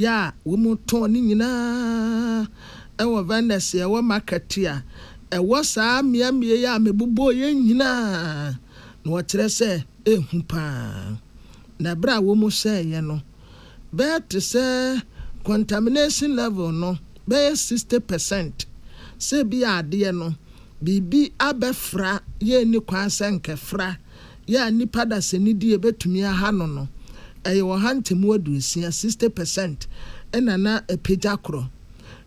Yɛ a wɔtɔn ne nyinaa wɔ vendors a ɛwɔ market a ɛwɔ saa mmeammea yi a mebobɔɔ yɛ nyinaa, na wɔkyerɛ sɛ ɛyɛ hu paa. Na berɛ a wɔhyɛeɛ no, bɛyɛ te sɛ contamination level no bɛyɛ sixty percent sɛ ebia adeɛ no biribi abɛfra yɛ nni kwan sɛ nkɛfra yɛ a nnipa dasani die bɛtumi aha no no ɛyɛ ɔha ntemu aduosia sixty percent na na apagya korɔ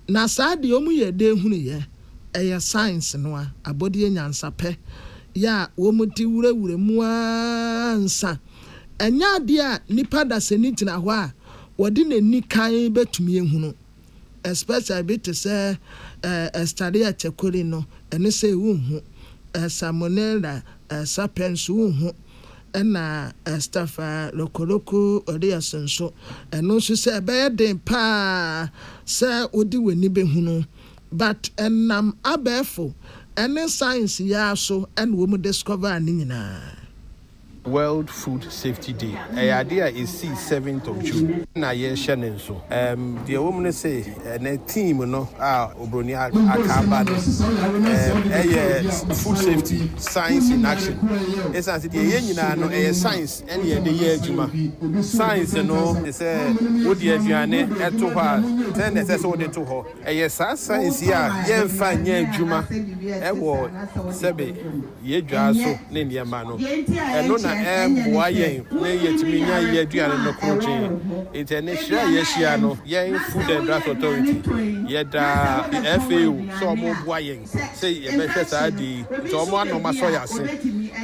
na saa deɛ wɔn yɛ dee hunu yɛ ɛyɛ science no a abɔdeɛ nyansapɛ yɛ a wɔn de wurawura mu ara nsa Ɛnyɛ adeɛ a nipa dasani gyina hɔ a wɔde n'ani kann bɛtumi ahunu, especially bi te sɛ Estaria Chekori no, ɛno sei wonhu, Salmonella sapiens wonhu, ɛna Staphylococcus aureus nso, ɛno nso sɛ ɛbɛyɛ den pa ara sɛ wode w'ani bɛhunu. But ɛnam abɛɛfo ne science yi ara so na wɔdiscovere ne nyinaa. World Food Safety Day, ɛyɛ adeɛ a ɛsii seventh of June na yɛrehyɛ ne nso. Ɛm, deɛ ɛwɔ mu ne se, ɛnɛ theme no a Oburoni a aka aba no, ɛm, ɛyɛ Food Safety, Science in Action. Ɛsiane se deɛ yɛyɛ nyinaa no, ɛyɛ science ɛne yɛde yɛ adwuma. Science no te sɛ wode aduane to hɔ a, sɛn na ɛsɛ sɛ wode to hɔ. Ɛyɛ saa science yi a yɛmfa nyɛ adwuma wɔ sɛbe. yɛn dwa so ne nneɛma no. Ɛno na ɛboa yɛn ne yɛtumi nya yɛn aduane no krokyenn. Enti ɛne hyerɛ a yɛahyia no, yɛn Food and Drugs Authority, yɛda FAO sɛ wɔboa yɛn sɛ yɛbɛhwɛ saa ade yi. Nti wɔn ano wɔn asɔ yɛn ase.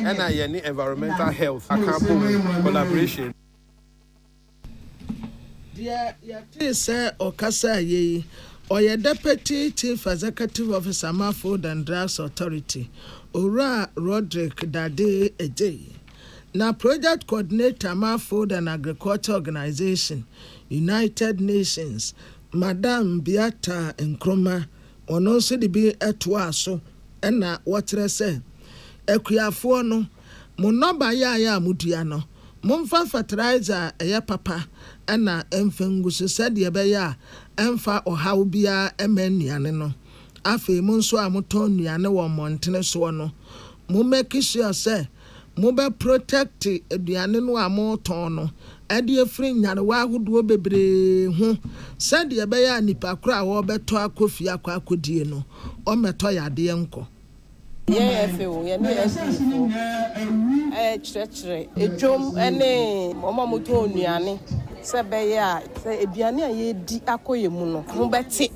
Ɛna yɛne Environmental Health aka abom collaboration. Deɛ yɛtee sɛ ɔkasaa yɛ yi, ɔyɛ Deputy Chief Executive Officer ma Food and Drugs Authority, Owura Roderick Dade Adjei, na Project Coordinator ma Food and Agriculture Organization, United Nations, Madam Beata Nkrumah, ɔno nso de bi toaa so na wɔkyerɛ sɛ akuafoɔ no, Mo nnɔbaeɛ a modua no, momfa fateraiza a ɛyɛ papa na ɛmfa ngu so sɛdeɛ ɛbɛyɛ a ɛremfa ɔhaw biara mma nnuane no. Afei mo nso a motɔn nnuane wɔ mmɔntene soɔ no, mo make sure sɛ mobɛ protect aduane no a motɔn no de afiri nyarewa ahodoɔ bebree ho sɛdeɛ ɛbɛyɛ a nnipa korɔ a wɔrebɛtɔ akɔ fie akɔ akɔdie no, wɔmmɛtɔ yadeɛ nkɔ. Yɛn afei o, yɛne Asdifo rekyerɛkyerɛ. Dwom ne wɔn a wɔtɔn nnuane sɛ ɛbɛyɛ a. Sɛ aduane a yɛredi akɔ yɛn mu no ho bɛte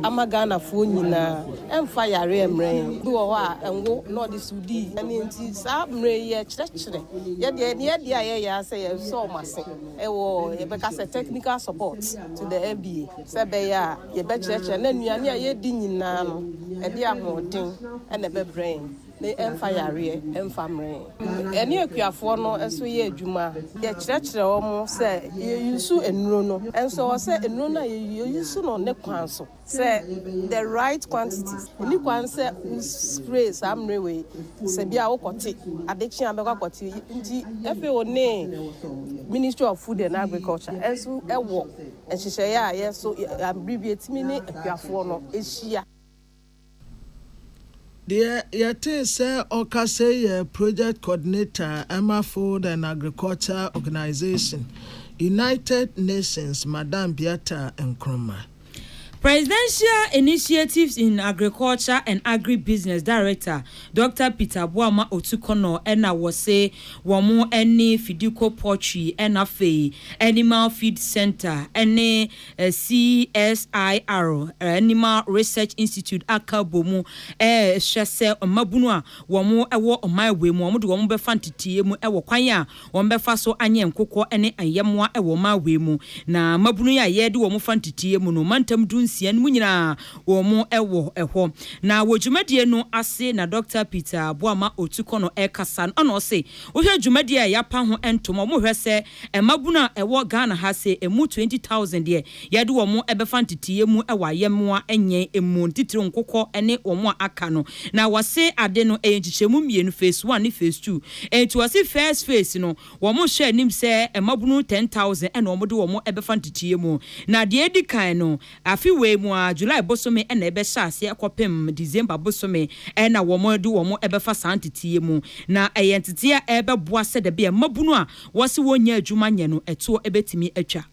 ama Ghanafoɔ nyinaa. Ɛmfa yare mmrɛ yɛn. Bi wɔ hɔ a ɛnwo na ɔde sudi. Ɛno nti saa mmerɛ yi yɛrekyerɛkyerɛ. Yɛn deɛ nea ɛdeɛ a yɛyɛ ara sɛ yɛsɔ wɔn ase wɔ yɛbɛka sɛ technical support to the NBA sɛ ɛbɛyɛ a. Yɛbɛkyerɛkyerɛ na nnuane a yɛdi nyinaa no, ɛde ahoɔden na ɛbɛbrɛ yɛn, na ɛmfa yareɛ mfa mmerɛ yɛn. Yɛne akuafoɔ no nso yɛ adwuma a, yɛkyerɛkyerɛ wɔn sɛ yɛyusu nnuro no, nso ɛwɔ sɛ nnuro no a yɛyusu, yɛyusu no ne kwan so, sɛ the right quantity. Ɛnni kwan sɛ wo spray saa mmerɛ wei, sɛ bia wokɔte, ade kye a wobɛkɔ akɔte. Nti FAO ne Ministry of Food and Agriculture nso wɔ Nhyehyɛeɛ a yɛ so bere bi atumi ne akuafoɔ no ahyia. Deɛ yɛtee sɛ ɔka sei yɛ Project Coordinator a ɛma Food and Agriculture Organization, United Nations, Madam Beata Nkrumah. Presidential Initiatives in Agriculture and Agri-Business Director, Dɔkta Peter boa ma otu kɔnɔ ɛna wɔse wɔn ɛne Fidiko Poultry ɛna afei Animal Feed Centre ɛne CSIR, Animal Research Institute, aka abɔ mu ɛrehwɛ sɛ mmabunu a wɔn ɛwɔ ɔman wei mu wɔn de wɔn bɛfa nteteɛ mu ɛwɔ kwan a wɔbɛfa so anyɛ nkokoɔ ne ayɛmmoa wɔ Maui mu. Na mmabunu yi a yɛde wɔn fa nteteeɛ mu no, mantam du nsia no mu nyinaa wɔn wɔ hɔ. Na wɔ dwumadie no ase na Dɔkta Peter Boamah Otukor no rekasa no, ɛna ɔse wohwɛ dwumadie a yɛapa ho ntoma, wɔhwɛ sɛ mmabunu a ɛwɔ Ghana ha se ɛmu 20,000 deɛ Yɛde wɔn bɛfa nteteeɛ mu wɔ ayɛmmoa nyɛn mu, ne titiriw nkokɔ ne wɔn a aka no. Na wɔse ade no yɛ nkyekyɛmu mmienu, Phase One ne Phase Two. Enti wɔse First Phase no, wɔhyɛ anim sɛ mmabunu ten thousand na wɔde wɔn bɛfa nteteeɛ mu. Na deɛ edi kan no, afe wei mu ara, July bosome na ɛbɛhyɛ aseɛ kɔpem December bosome na wɔde wɔn bɛfa saa nteteeɛ mu. Na ɛyɛ nteteeɛ a ɛbɛboa sɛdɛbea mmabunu a wɔse wɔnnya adwuma nyɛ no, ɛtoɔ bɛtumi atwa.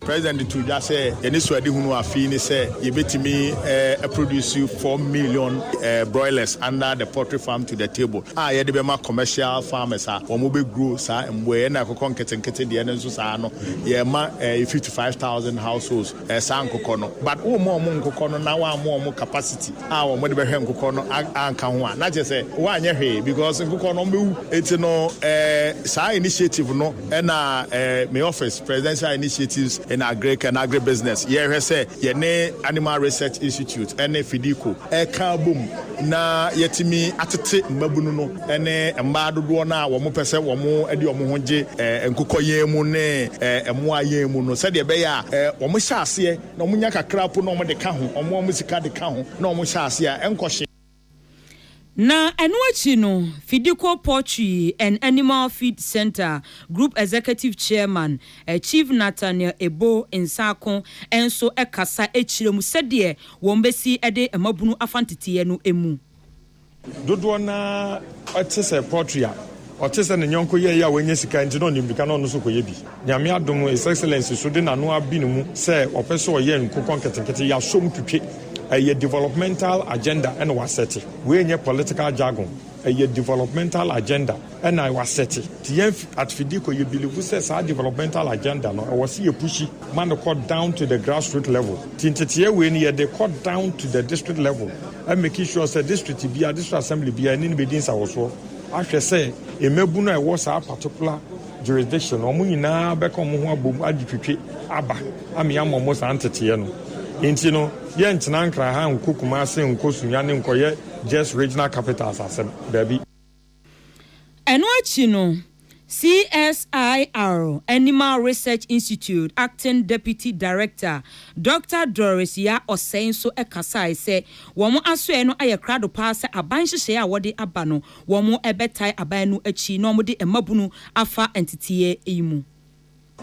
President de too dwa sɛ yɛanisoadehunu afei ne sɛ yɛbɛtumi aproduce four million broilers under the poultry farm to the table a yɛde bɛma commercial farmers a wɔbɛgrow saa mmoa yi ɛna ɛkɔkɔ nketenkete deɛ no nso saa no yɛma fifty five thousand households saa nkokɔ no but womma wɔn nkokɔ no na woamma wɔn capacity a wɔde bɛhwɛ nkokɔ no anka ho a na kyerɛ sɛ woanyɛ hwee because nkokɔ no wɔbɛwu enti no saa initiative no Ɛna eh, me office, Presidential Initiatives in Agric and Agribusiness, yɛrehwɛ sɛ yɛne Animal Research Institute ɛne Fedeco ɛka abom na yɛatumi atete mmabunu no ɛne mmaa dodoɔ no a wɔpɛ sɛ wɔn de wɔn ho gye eh, nkokɔ yɛn mu ne eh, mmoa yɛn mu no sɛdeɛ ɛbɛyɛ a eh, wɔn hyɛ aseɛ na wɔn nya kakra po na wɔn de ka ho, wɔn wɔn sika de ka ho na wɔn hyɛ aseɛ a ɛnkɔ hye. Na ɛno akyi no, Fidiko Poultry and Animal Feed Centre Group Executive Chairman, Chief Nathaniel Ebo Nsaako nso kasa kyerɛ mu sɛdeɛ wɔn bɛsi de mmabunu afa nteteeɛ no mu. Dodoɔ no ara te sɛ poultry a Ɔte sɛ ne yɔnko yɛeɛ a wanya sika nti na ɔde mmirika na ɔno nso rekɔyɛ bi. Nyame adom no, His Excellency nso de n'ano abi ne mu sɛ ɔpɛ sɛ ɔyɛ nkokɔ nketenkete, yɛasɔ mu twitwe. Ɛyɛ developmental agenda na wasɛte. Wei nyɛ political jargon, ɛyɛ developmental agenda na wasɛte. Nti yɛn at Fedeco yɛbilivu sɛ saa developmental agenda no, ɛwɔ sɛ yɛpushi ma no kɔ down to the grassroot level. Nti nteteɛ wei no, yɛde rekɔ down to the district level, making sure sɛ district biara, district assembly biara, yɛne no bɛdi nsawɔsoɔ. ahwɛ sɛ mmabunu a ɛwɔ saa particular jurisdiction no, wɔn nyinaa bɛka wɔn ho abom agye twitwi aba ama yɛama wɔn saa nteteɛ no. Nti no, yɛntena nkra ha nkɔ Kumase, nkɔ Sunya ne nkɔyɛ just regional capitals asɛm. Daabi. Ɛno akyi no, CSIR Animal Research Institute Acting Deputy Director Dɔkta Doris Yaa Osei nso kasae sɛ wɔn asoɛe no ayɛ krado paa sɛ aban nhyehyɛe a wɔde aba no wɔbɛtae aban no akyi na wɔde mmabunu afa nteteeɛ yi mu.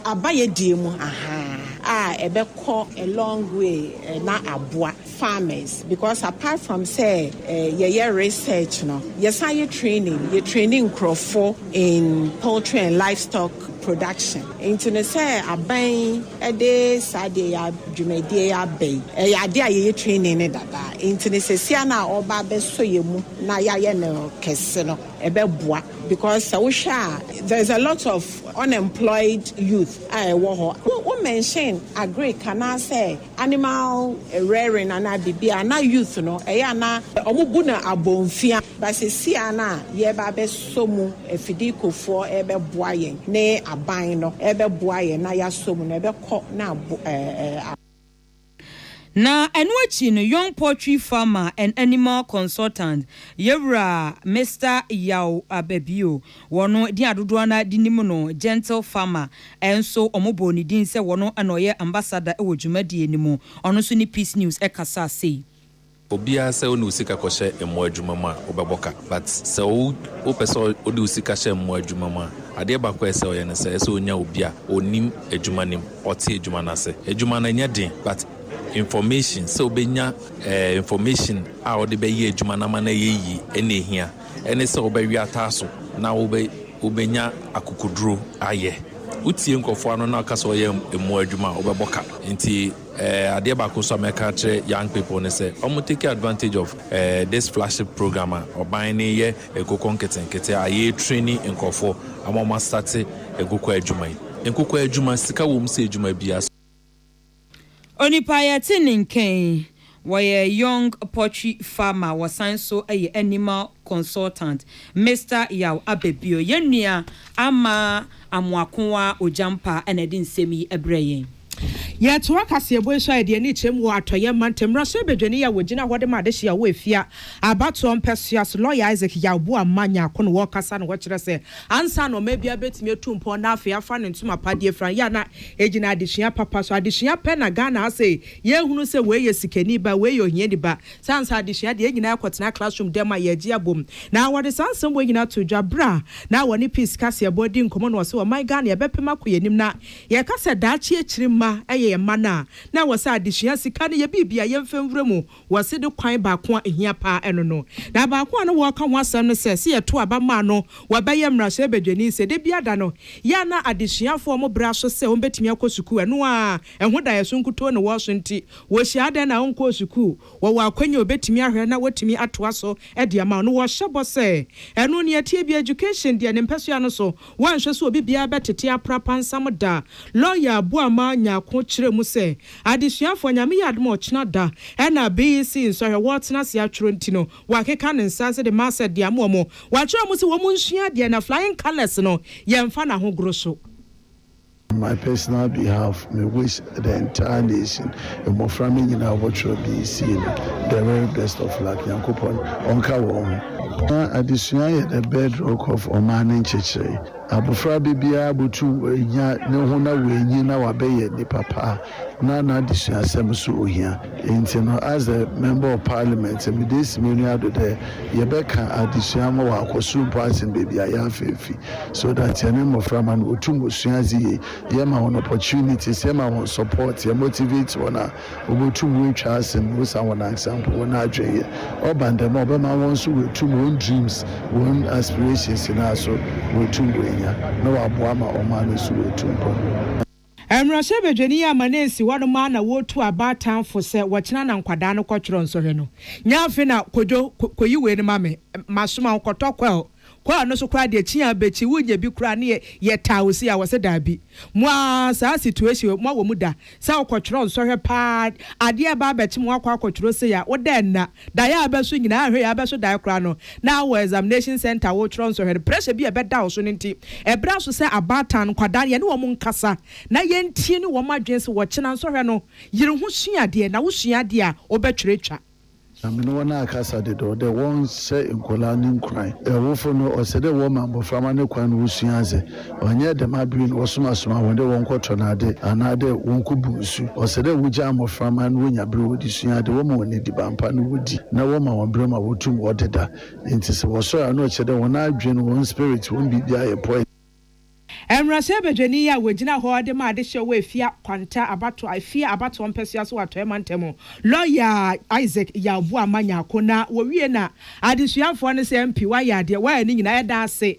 Abayɛdeɛ mu ahaa a ɛbɛkɔ a long way na aboa farmers because apart from sɛ yɛyɛ research no yɛsan yɛ training yɛ training nkorɔfo in poultry and livestock production nti no sɛ aban yi ɛde saa deɛ yɛ dwumadie yɛ aba yi ɛyɛ adeɛ a yɛyɛ training no dada nti no sɛsia no a ɔba abɛsɔ yɛ mu na yɛayɛ no kɛse no. Ɛbɛboa because sɛ wohwɛ a there is a lot of unemployed youth a ɛwɔ hɔ. Wo wo mention agric anaasɛ animal rearing anaa biribi a na youth no ɛyɛ a na wɔn bu no abonfia but seesei a na yɛreba abɛsɔ mu afidikofoɔ ɛrebɛboa yɛn ne aban no ɛrebɛboa yɛn na yɛasɔ mu no ɛbɛkɔ na abo ɛɛ. Na ɛno akyi no Young Poultry Farmer and Animal Consultant yɛwura Mister Yaw Ababio, wɔn din a dodoɔ no ara de nim no Gentle Farmer nso wɔbɔɔ ne din sɛ wɔn na ɔyɛ ambassador wɔ dwumadie no mu, ɔno nso ne Peace News kasaa sei. Obiara sɛ wode wo sika kɔhyɛ mmoa adwuma mu a wobɛbɔ ka but sɛ wo wopɛ sɛ wode wo sika hyɛ mmoa adwuma mu a adeɛ baako a ɛsɛ ɔyɛ ne sɛ ɛsɛ ɔnya obi a ɔnim adwuma no mu ɔte adwuma no ase adwuma no ɛnyɛ den but information sɛ wobɛnya eh, information a wode bɛyɛ adwuma no ama no ɛyɛ yie ɛna ɛhia ɛne sɛ wobɛwe ataa so na wobɛ wobɛnya akokoduro ayɛ wotie nkurɔfoɔ ano na ɔka sɛ ɔyɛ mmoa adwuma a wobɛbɔ ka nti Eh, adeɛ baako nso a mɛka akyerɛ young people ne sɛ wɔn take advantage of eh, this flagship program a ɔban ne yɛ nkokɔ nketenkete a yɛ training nkurɔfoɔ ama wɔn asate nkokɔ adwuma yi. Nkokɔ adwuma, sika wɔ mu sɛ adwuma biara. Onipa yɛte ne nka yi. Wɔyɛ Young Poultry Farmer wɔsan nso yɛ Animal Consultant. Mister Yaw aba bio. Yɛn nua Ama Amoakoa Ogyampa na ɛde nsɛm yi brɛɛ yɛn. Yɛtoa kaseɛbɔ yi so a yɛde yɛn ani kyerɛm wɔ Atɔeɛ mantam mmarahyɛ badwani a wɔgyina hɔ de ma adehyeɛ a ɔwɔ Afia abatoɔ mpɛsoa so, Lɔya Isaac Yaw Boamah Nyarko na ɔrekasa na ɔkyerɛ sɛ ansa na ɔman biara bɛtumi atu mpɔn na afei afa ne ntoma pa de afira yɛ a na ɛgyina adesua papa so. Adesua pɛ na Ghana ha sei Yɛrehunu sɛ wei yɛ sikani ba, wei yɛ ohiani ba. Saa nsa adesua deɛ, yɛn nyinaa kɔtenaa classroom dan mu a yɛregye abom. Na wɔde saa nsɛm wei nyinaa too dwa berɛ a na wɔne Peace Kaseɛbɔ redi nkɔmmɔ na ɔse ɔman Ghana yɛbɛpem akɔ yɛn anim na yɛreka sɛ daakye akyiri mma yɛ yɛn mma no a, na ɛwɔ sɛ adesua sika no yɛ biribi a yɛmfa nwura mu. Wɔse de kwan baako a ɛhia pa ara ɛno no. Na baako a na wɔreka ho asɛm ne sɛ, sɛ yɛto aba ma no wɔbɛyɛ mmarahyɛbadwani, sɛ da biara da no yɛ a na adesuafoɔ a wɔbrɛ aso sɛ wɔbɛtumi akɔ sukuu, ɛno ara Ɛho daeɛso nkutoo na wɔso nti wɔhyia adɛn na ɔnkɔɔ sukuu? Wɔwɔ akwanya a ɔbɛtumi ahwɛ na wɔtumi atoa so de ama no. Wɔhyɛ bɔ sɛ ɛno nea ɛteɛ biara, education deɛ ne mpɛsoa no so wɔnhwɛ so obi biara bɛtete apra pansam da. Lawyer Abuama Nyarko kyerɛ mu sɛ, Adesuafoɔ Nyame yɛ adom a ɔkyena da na BEC nsɔhwɛ wɔretena ase atwerɛ nti no wɔakeka ne nsa ase de ma sɛ de ama wɔn. Wɔakyerɛ wɔn sɛ wɔn nsua adeɛ na flying colours no yɛmfa no ahogoro so. On my personal behalf, me wish the entire nation, mmɔfra mma nyinaa a wɔbɔtwerɛ bi sie no, the very best of luck, Nyankopɔn ɔnka wɔn ho. Na adesua yɛ the bedrock of ɔman ne nkyekyere. Abɔfra bebiara botum w'anya ne ho na w'anyin na w'abɛyɛ nipa pa. Ná n'adesuasɛm so ohia. Ntsi no, adze mebɔɔ Parliament no, mede esi m'enyi ado dɛ yɛbɛkã adzesua ma wɔakɔ sor mpo asen beebi a yɛafa efi, so that hɛn mboframba no wotum sua adze yie, yɛma hɔn opportunities, yɛma hɔn support, yɛmotivate hɔn a, wobotum woetwa asen osian hɔnankasa mpo hɔn adwen yɛ. Ɔba no dɛm a, ɔbɛma hɔn so woetum hɔn dreams, hɔn aspirations nyina so woetum woenya, na ɔaboa ma ɔman no so woetu mpon. Mmarahyɛbadwani a ama no ansi hɔ no maa na wɔretu aba atan fo sɛ wɔkyena na nkwadaa no kɔtwerɛ nsɔhwɛ no. Nyɛ afe na Kojo, kɔyi wei no ma me, masoma wo kɔtɔ kwɛl, kwɛl no so koraa deɛ kyi a bɛkyi wo nyɛ bi koraa ne yɛ yɛ taa wo sei a wɔse daabi. Mo ara saa situation yi mo awɔ mu da sɛ wokɔtwerɛ nsɔhwɛ paa adeɛ ɛba abɛkye mo wakɔ akɔtwerɛ sei a wo dɛ nna Da yɛ abɛ so nyinaa hwɛ yɛ abɛ so dae koraa no na wɔ examination centre a wokyerɛw nsɔhwɛ no pressure bi a ɛbɛda wo so no nti ɛbrɛ aso sɛ abaatan nkwadaa no yɛne wɔn nkasa na yɛntie ne wɔn adwene sɛ wɔkyena nsɔhwɛ no yere ho sua adeɛ na wosua adeɛ a wobɛtwerɛ twa. Na me ne wɔn akasa dedaw dɛ wɔnhyɛ nkwadaa no nkuran. Awofo no, ɔsɛ dɛ wɔma mboframba no kwan ma wosua adze. Ɔnnyɛ dɛm aber no wɔsomasoma hɔn dɛ wɔnkɔ tɔn adze anaadɛ wɔnkɔ bu nsu. Ɔsɛ dɛ wogyaa mbofra ma no wonya ber a wɔdze sua adze, wɔma hɔn edziban pa na wodzi, na wɔma hɔn ber ma wotum wɔdeda. Ntsi sɛ wɔsɔr a, nna ɔkyerɛ dɛ hɔn adwen, hɔn spirit, hɔn biribiara yɛ poison. Mbrasɛɛ badwani yi a wogyina hɔ dze ma adehyew wɔ Efia Kwanta abatow Efia abatow mpɛsoa so wɔ Atɔe mantam, lɔya Isaac Yaw Boamah Nyarko na wowie na adesuafoɔ no sɛ MP wayɛ adeɛ wayɛ ne nyinaa yɛda ase.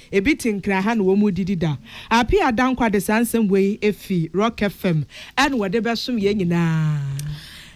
Ebi te nkra ha na wɔn mu didi da. Appiah Dankwa de saa nsɛm wei fi Rock FM ɛna wɔde bɛsom yɛn nyinaa.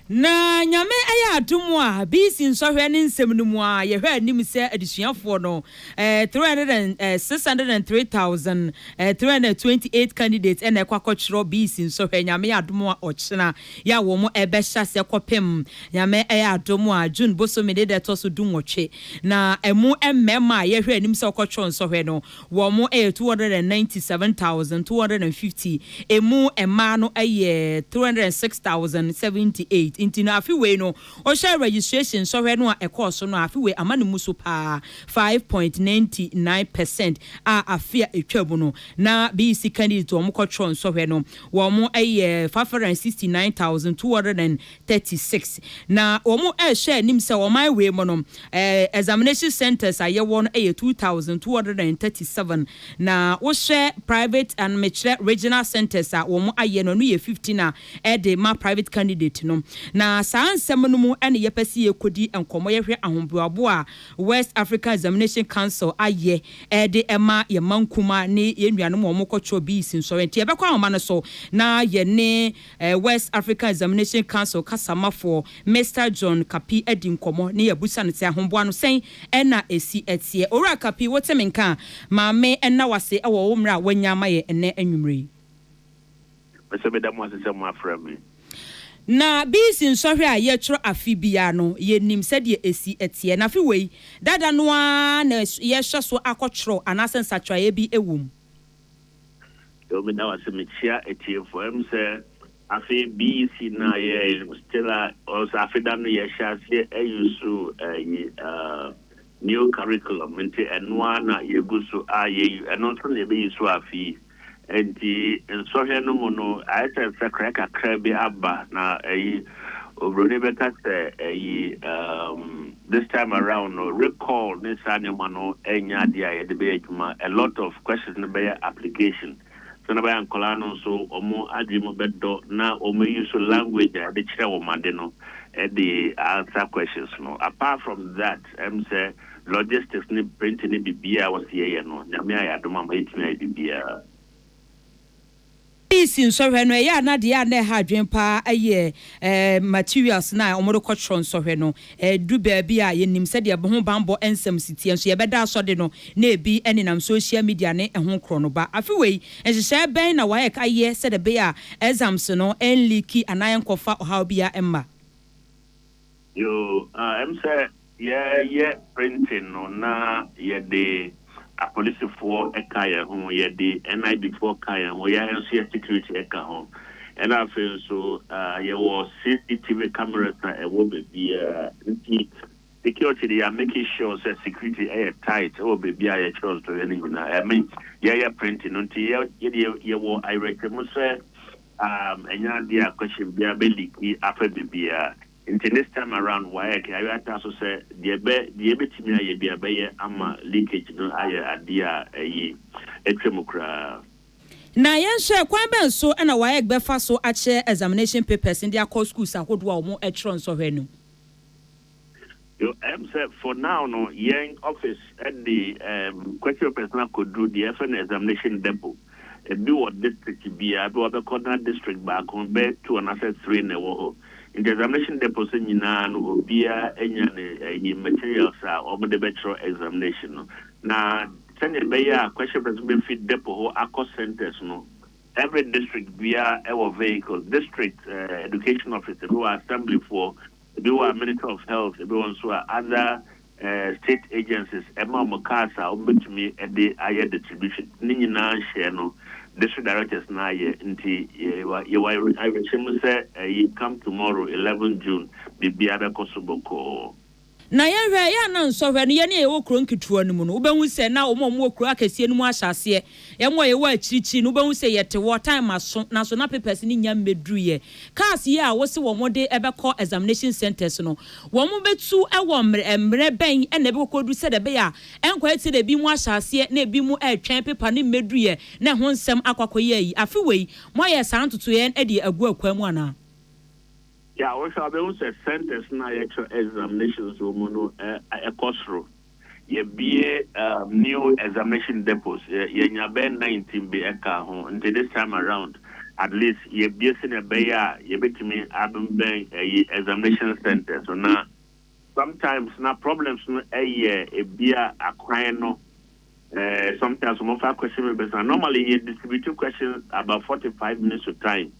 Na Nyame ayɛ adom a, BC nsɔhwɛ ne nsɛm no mu a, yɛhwɛ anim sɛ adesuafoɔ no, eh, three hundred and, eh, six hundred and three thousand, eh, three hundred and twenty eight candidates ɛna ɛkɔ akɔtwerɛ BC nsɔhwɛ, Nyame yɛ adom a ɔkyena Yɛ a wɔn ɛbɛ hyɛ aseɛ kɔpem Nyame ɛyɛ adom a June bosome ne da ɛtɔ so du nwɔtwe. Na ɛmu mmɛɛma a yɛhwɛ anim sɛ wɔkɔ twerɛ nsɔhwɛ no wɔn ɛyɛ 297,250, ɛmu mmaa no ɛyɛ 306,078. Nti no afe wei no wo hwɛ registration nsɔhwɛ no a ɛkɔɔ so no a afe wei ama no mu so paa 5.99 percent a afe a ɛtwa mu no na BEC candidates wɔn kɔ twerɛ nsɔhwɛ no Wɔyɛ five hundred and sixty nine thousand two hundred and thirty six na wɔhyɛ anim sɛ ɔman wei mu no eh, examination centres a yɛwɔ no yɛ two thousand two hundred and thirty seven na wohyɛ private and mekyerɛ regional centres a wɔayɛ no ɛno yɛ fifteen a ɛde ma private candidate no na saa nsɛm no mu ɛne yɛpɛ sɛ yɛkɔdi nkɔmmɔ yɛhwɛ ahoboabo a West African Examination Council ayɛ de ma yɛn mma nkumaa ne yɛn nuanom a wɔkɔ kyerɛw BEC nsɔre. Nti yɛbɛkɔ ahoma no so na yɛne West African Examination Council kasamafoɔ Mister John Kapi adi nkɔmmɔ na yɛabusa no sɛ ahoboa no sɛn na ɛsi teɛ. Owura Kapi, wote me nka a, ma me nna wo ase wɔ wo mmerɛ a woanya ama yɛn ɛnnɛ anwumerɛ yi. Mepɛ sɛ meda mo ase sɛ moafrɛ me. Na Bees nsɔhwɛ a yɛtwerɛ afe biara no, yɛnim sɛdeɛ ɛsi teɛ. Na afe wei, dada no ara na yɛrehyɛ so akɔtwerɛ anaasɛ nsakyeraeɛ bi wɔ mu. Yoo meda wo ase mekyia atiefoɔ ɛm sɛ afe BEC no a yɛ still a ɔsɛ afe da no yɛhyɛ aseɛ ayusu ɛyi new curriculum nti ɛnoa na yɛgu so a yɛyu ɛno nso na yɛbɛyusu afe yi. Enti nsɔhwɛ no mu no, ayɛ sɛ nsakrae kakra bi aba, na ayi, oburoni bɛka sɛ ayi, um, this time around no, recall ne saa nneɛma no nyɛ adeɛ a yɛde bɛyɛ adwuma. A lot of questions no bɛyɛ application. Sɛnea ɛbɛyɛ a nkwadaa no nso wɔn adwene mu bɛdɔ na wɔn use language a yɛde kyerɛ wɔn ade no de answer questions no. Apart from that, ɛm sɛ logistics ne printing ne biribiara a wɔsi yɛyɛ no Nyame ayɛ adom ama yɛtumi ayɛ biribiara. Ɔfisi nsɔhwɛ no ɛyɛ a na deɛ a na ɛha adwene paa ɛyɛ materials no a wɔde kɔtwerɛ nsɔhwɛ no. Ɛduru baabi a yɛnim sɛdeɛ ho banbɔ nsɛm si teɛ nso yɛbɛda asɔ de no na ɛbi nenam social media ne ɛho korɔ no ba. Afe wei nhyehyɛeɛ bɛn na WAEC ayɛ sɛdeɛ ɛbɛyɛ a exams no ɛnliiki anaa ɛnkɔfa ɔhaw biara mma? Yoo ah ɛm sɛ yɛ yɛ printing no na yɛ de apolisifoɔ ɛka yɛ ho yɛ de NIB foɔ ka yɛ ho yɛ nso yɛ security ɛka ho ɛna afei nso ah yɛ wɔ CCTV cameras a ɛwɔ bɛbiaa nti security de yɛ make sure sɛ security ɛyɛ tight ɛwɔ bɛbiaa yɛ kyerɛ nso yɛ no nyinaa I mean yɛ yɛ printing no nti yɛ yɛ deɛ yɛ wɔ ayerɛkyɛmu sɛ um ɛnyɛ adeɛ a question biara bɛ liki afa biribiara nti this time around waec ayɔ atra so sɛ deɛ bɛ deɛ ɛbɛtumi ayɛ biara bɛyɛ ama leakage no ayɛ adeɛ a ɛyi atwa mu koraa. Na yɛnhwɛ kwan bɛn so na waec bɛfa so akyɛ examination papers no de akɔ schools ahodoɔ a wɔtwerɛ nsɔhwɛ no mu. Yo, ɛm sɛ for now no yɛn office de ɛɛm question papers no akɔduru deɛ yɛfrɛ no examination depot. Ebi wɔ district biara, ebi wɔ bɛkɔ na district baako bɛyɛ two anaasɛ three na ɛwɔ hɔ. Nti examination depots no nyinaa no obiara anya ne ɛyi materials a wɔn de bɛkyerɛ examination no. Na sɛdeɛ ɛbɛyɛ a question papers no bɛfi depot hɔ akɔ centres no, every district biara ɛwɔ vehicles, district ɛɛ education office, ebi wɔ assemblyfoɔ, Bi wɔ a Ministry of Health, bi wɔ nso a other state agencies ma wɔn cars a wɔbɛtumi de ayɛ distribution. Ne nyinaa hyɛɛ no district directors no ayɛ nti yɛwɔ awerɛhyɛmu sɛ ɛyi come tomorrow 11 June biribiara bɛkɔ so bɔkɔɔ. Na yɛhwɛ a, yɛ a na nsɔhwɛ no yɛn a yɛwɔ kuro nketewa no mu no, wobɛhu sɛ na wɔn a wɔwɔ kuro akɛseɛ no mu ahyɛ aseɛ Yɛn a yɛwɔ akyirikyiri no, wobɛhu sɛ yɛte hɔ, time aso, nanso na papers no nnya mmɛduruiɛ. Cars yi a wose wɔde bɛkɔ examination centres no, wɔbɛtu wɔ mmerɛ mmerɛ bɛn na ɛbɛkɔkɔduru sɛdeɛ ɛbɛyɛ a ɛnkɔyɛ te sɛ deɛ binom ahyɛ aseɛ na binom retwɛn paper no mmɛduruiɛ na ɛho nsɛm akɔ akɔyɛ ayi. Afe wei, moayɛ saa ntotoeɛ de agu akwan mu anaa? Yeah, wohwɛ a wobɛhu sɛ centres no a yɛkyerɛ examinations wɔ mu no kɔ soro. Yɛbue um new examination depots, yɛanya bɛyɛ nineteen bi ɛkaa ho, nti this time around at least yɛbue sɛdeɛ ɛbɛyɛ a yɛbɛtumi abɛn ɛyi examination centres no na sometimes na problems no ɛyɛ ebia akwan no eh, sometimes wɔmfa question papers na normally yɛ distribute questions about forty five minutes to time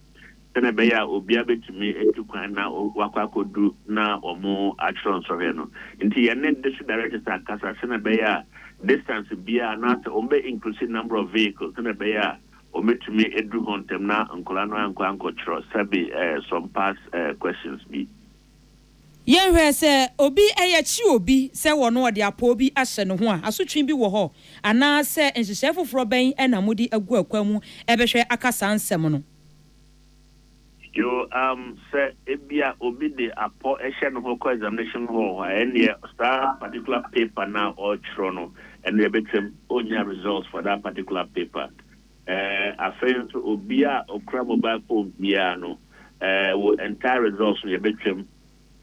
sɛnea ɛbɛyɛ a obiara betumi atu kwan na wakɔ akodu na wɔatwerɛ nsɔhwɛ no. Nti yɛn ne District Directors akasa sɛnea ɛbɛyɛ a distance biara anaasɛ wɔbɛ increase number of vehicles sɛnea ɛbɛyɛ a wɔbɛtumi aduru hɔ ntɛm na nkwadaa no ankɔ ankɔtwerɛ sɛbe some past questions bi. Yɛnhwɛ sɛ obi yɛkye obi sɛ wɔ no wɔde apɔw bi ahyɛ ne ho a, asotwe bi wɔ hɔ anaasɛ nhyehyɛe foforɔ bɛn na mode agu akwan mu bɛhwɛ aka saa nsɛm no? Yo, umm sɛ ebia obi de apɔ hyɛ ne ho kɔ examination hall a ɛnneɛ saa particular paper no a ɔretwerɛ no ɛnneɛ ɛbɛtwam ɔnnya results for that particular paper. Ɛɛ afei nso obiara a ɔkura mobile phone biara no ɛɛ wo entire results no yɛbɛtwam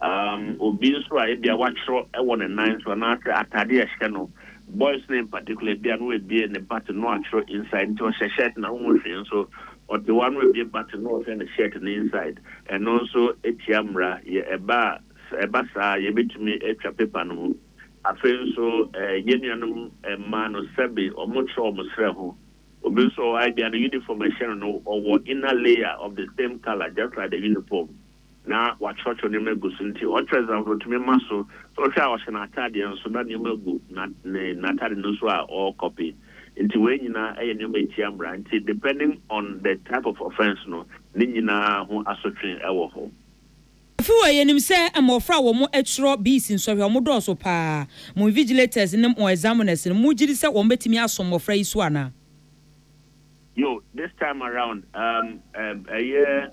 Um, obi nso a ebia watwerɛ wɔ ne nan so anaasɛ atade a ɛhyɛ no, boys no in particular, ebia no abie ne button no atwerɛ inside, nti ɔhyɛ shirt na honhu hwee nso, ɔte hɔ a no abie button no ɔhwɛ ne shirt no inside, ɛno nso tia mmara, yɛ ɛba a, sɛ ɛba saa a yɛbɛtumi atwa paper no mu. Afei nso eh, yɛn nuanom mmaa no sɛbe wɔtwerɛ wɔn serɛ ho, obi nso wɔ hɔ a ebia ne uniform a ɛhyɛ no no ɔwɔ inner layer of the same colour just like the uniform. na wakyerɛkyerɛw nneɛma agu so nti, ɔkyerɛ dza obotumi ma so. Ehwɛ a ɔhyɛ n'ataadeɛ nso na nneɛma gu ne n'ataade no so a ɔrekɔpe. Nti wei nyina yɛ nneɛma a etia mmara. Nti depending on the type of offence no, ne nyina ho asotwe wɔ hɔ. Afewa Yɛnim sɛ mmɔfra a wɔn ɛtwerɛ BC nsɔhwɛ wɔn dɔɔso paa. Mo invigilators ne mo examiners no, mo gyidi sɛ wɔn bɛtumi aso mmɔfra yi so anaa? Yo, this time around, um, um, ɛyɛ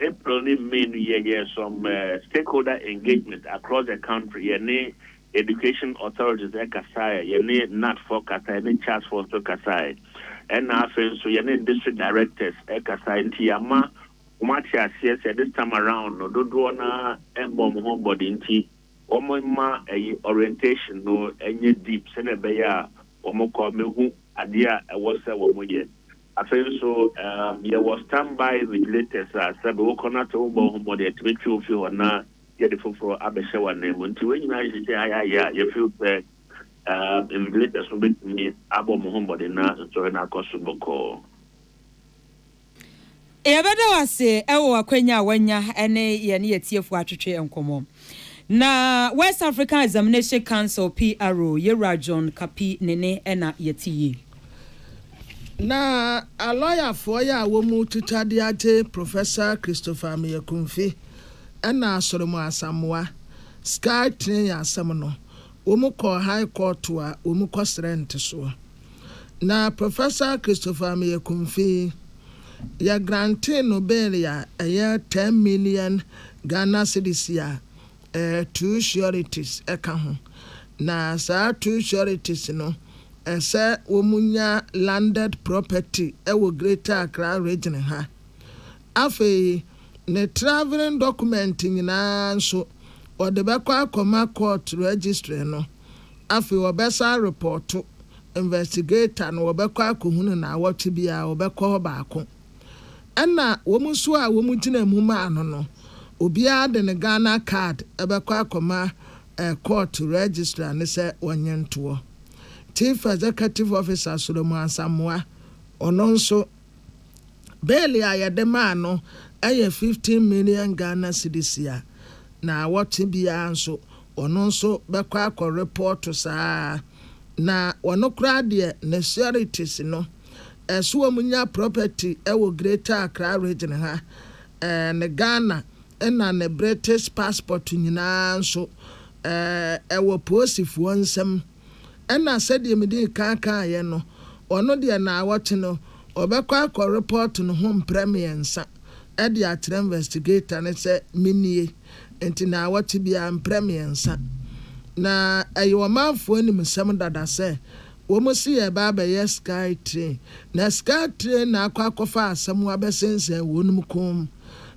April ne May no yɛyɛɛ some uh, stakeholder engagement across the country. Yɛne education authorities ɛkasaeɛ, yɛne NAT foɔ kasaeɛ, yɛne CHAS foɔ nso kasaeɛ. Ɛna afei nso yɛne district directors ɛkasaeɛ nti yɛama wɔn ate aseɛ sɛ this time around no dodoɔ no ara ɛmmɔ wɔn ho mmɔden nti wɔn mma ɛyi orientation no ɛnyɛ deep sɛdeɛ ɛbɛyɛ a wɔn kɔ mehu adeɛ a ɛwɔ sɛ wɔn yɛ. Afei nso, yɛwɔ Standby Regulators a sɛbe wokɔ na sɛ wobɔ wo ho mmɔden a, ɛtumi twe wo fi hɔ na yɛde foforɔ abɛhyɛ w'ananmu. Nti wei nyinaa yɛ sɛ ayɛ ayɛ a, yɛ feel sɛ Invigilators no bɛtumi abɔ mo ho mmɔden na nsɔhwɛ no akɔ so bɔkɔɔ. Yɛbɛda wo ase wɔ w'akwanya a woanya ne yɛne yɛatiefoɔ atwetwe nkɔmmɔ. Na West African Examination Council, PRO, yɛwura John Kapi Nene na yɛte yie. Na alɔyafoɔ yɛ a wɔmu twitwa de agye Professor Christopher Ameyakumfi ɛna Asoremu Asamoah Sky Train asɛm no, wɔmu kɔɔ High Court a wɔmu kɔ srɛ ntesoɔ. Na Professor Christopher Ameyakumfi yi, yɛ grantee no bail a ɛyɛ ten million Ghana cedis a, Two sureties ka ho, na saa two sureties no, ɛsɛ wɔnya landed property wɔ Greater Accra Region ha. Afei, ne travelling document nyinaa nso, wɔde bɛkɔ akɔma court registry no. Afei, wɔbɛsan arepɔɔto investigator no, wɔbɛkɔ akɔhunu no awɔtwe biara, wɔbɛkɔ hɔ baako. Ɛna wɔn nso a wɔn gyinaa mu maa no no, obiara de ne Ghana card bɛkɔ akɔma court registrar no sɛ ɔnye ntoɔ. Chief Executive Officer Solomon Asamoah, ɔno nso, bail a yɛde maa no yɛ fifteen million Ghana cedis a, na awɔtwe biara nso, ɔno nso bɛkɔ akɔ report saa ara. Na ɔno koraa deɛ, ne sureties no, So wɔn nya property wɔ greater Accra region ha eh ne Ghana na ne British passport nyinaa nso eh ɛwɔ poosifoɔ nsam ɛna sɛdeɛ medii kan kaeɛ no ɔno deɛ naawɔtwe no ɔbɛkɔ akɔ report ne ho mprɛ mmiɛnsa ɛde akyerɛ investigator no sɛ menie nti naawɔtwe biara mprɛ mmiɛnsa na ɛyɛ ɔmanfoɔ animsɛm dada sɛ Wɔn se yɛreba abɛyɛ sky train na sky train na akɔ akɔfa asɛm abɛsensɛn wɔnom kɔn mu.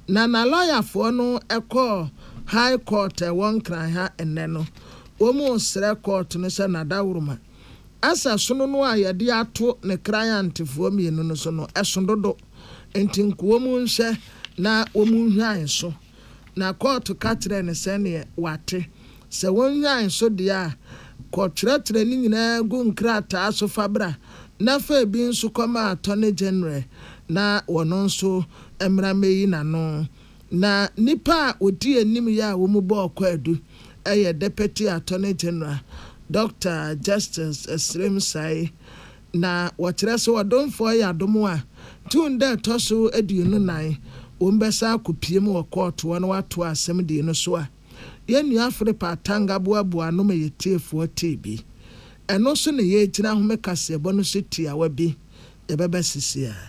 Na na lɔyafoɔ no kɔɔ High Court a ɛwɔ Nkran ha nnɛ no, wɔn resrɛ court no sɛ Nadaworoma asɛ sono no a yɛde ato ne kran antefoɔ mmienu no so no ɛso dodo nti nko wɔn nhwɛ na wɔn nhwan so. Na kɔɔto ka kyerɛɛ no sɛdeɛ wate. Sɛ wonhwan so deɛ a, kɔ twerɛtwerɛ ne nyinaa gu nkrataa so fa bra, na fa ebi nso kɔma Attorney General na ɔno nso mmra mmɛyi n'ano. Na nnipa a wɔdi anim yi a wɔn bɔɔ kwaadu yɛ Deputy Attorney General, Doctor Justice Srem Sae, Na wɔkyerɛ sɛ ɔdomfoɔ yɛ adom a, tun da ɛtɔ so aduonu nnan, wɔbɛsan akɔpiem wɔ kɔɔto hɔ na wɔatoa asɛmdie no so a, yɛn nua Philip Atang aboaboa ano ma yɛn tiefoɔ tee bi. Ɛno so na yɛregyina ahome kaseɛbɔ no so tiawa bi, yɛbɛba sisi ara.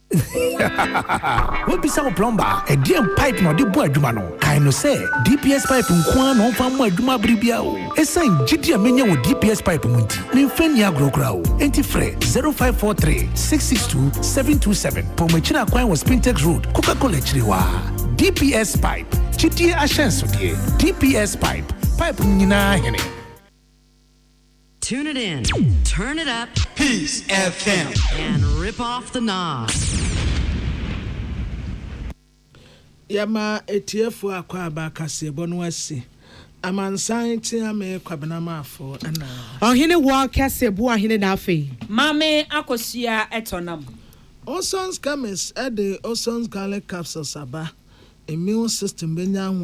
Woabisa wo plɔmba a, ɛdeɛn pipe na ɔde bɔ adwuma no? Kae no sɛ, DPS pipe nko ara na ɔmfa mmɔ adwuma bere biara o. Esiane gyidi a manya wɔ DPS pipe mu nti, memfa nni agorɔ koraa o. Enti frɛ 0543 662 727. Paw m'akyiri akwan wɔ Spintex Road, Coca-Cola akyiri hɔ ara. DPS pipe, gyidie ahyɛnsodeɛ. DPS pipe, pipe no nyinaa hene. Tune it in, turn it up, Peace FM, and rip off the knobs. Yɛma atiefo akwaaba kaseɛbɔ no asi. Amansan tea me Kwabena Maafo na. Ɔhene wɔ kɛse boa hene na afei. Maame akosua tɔ nam. Olson's chemist de Olson's garlic capsules aba. Immune system bɛnya ahoɔden.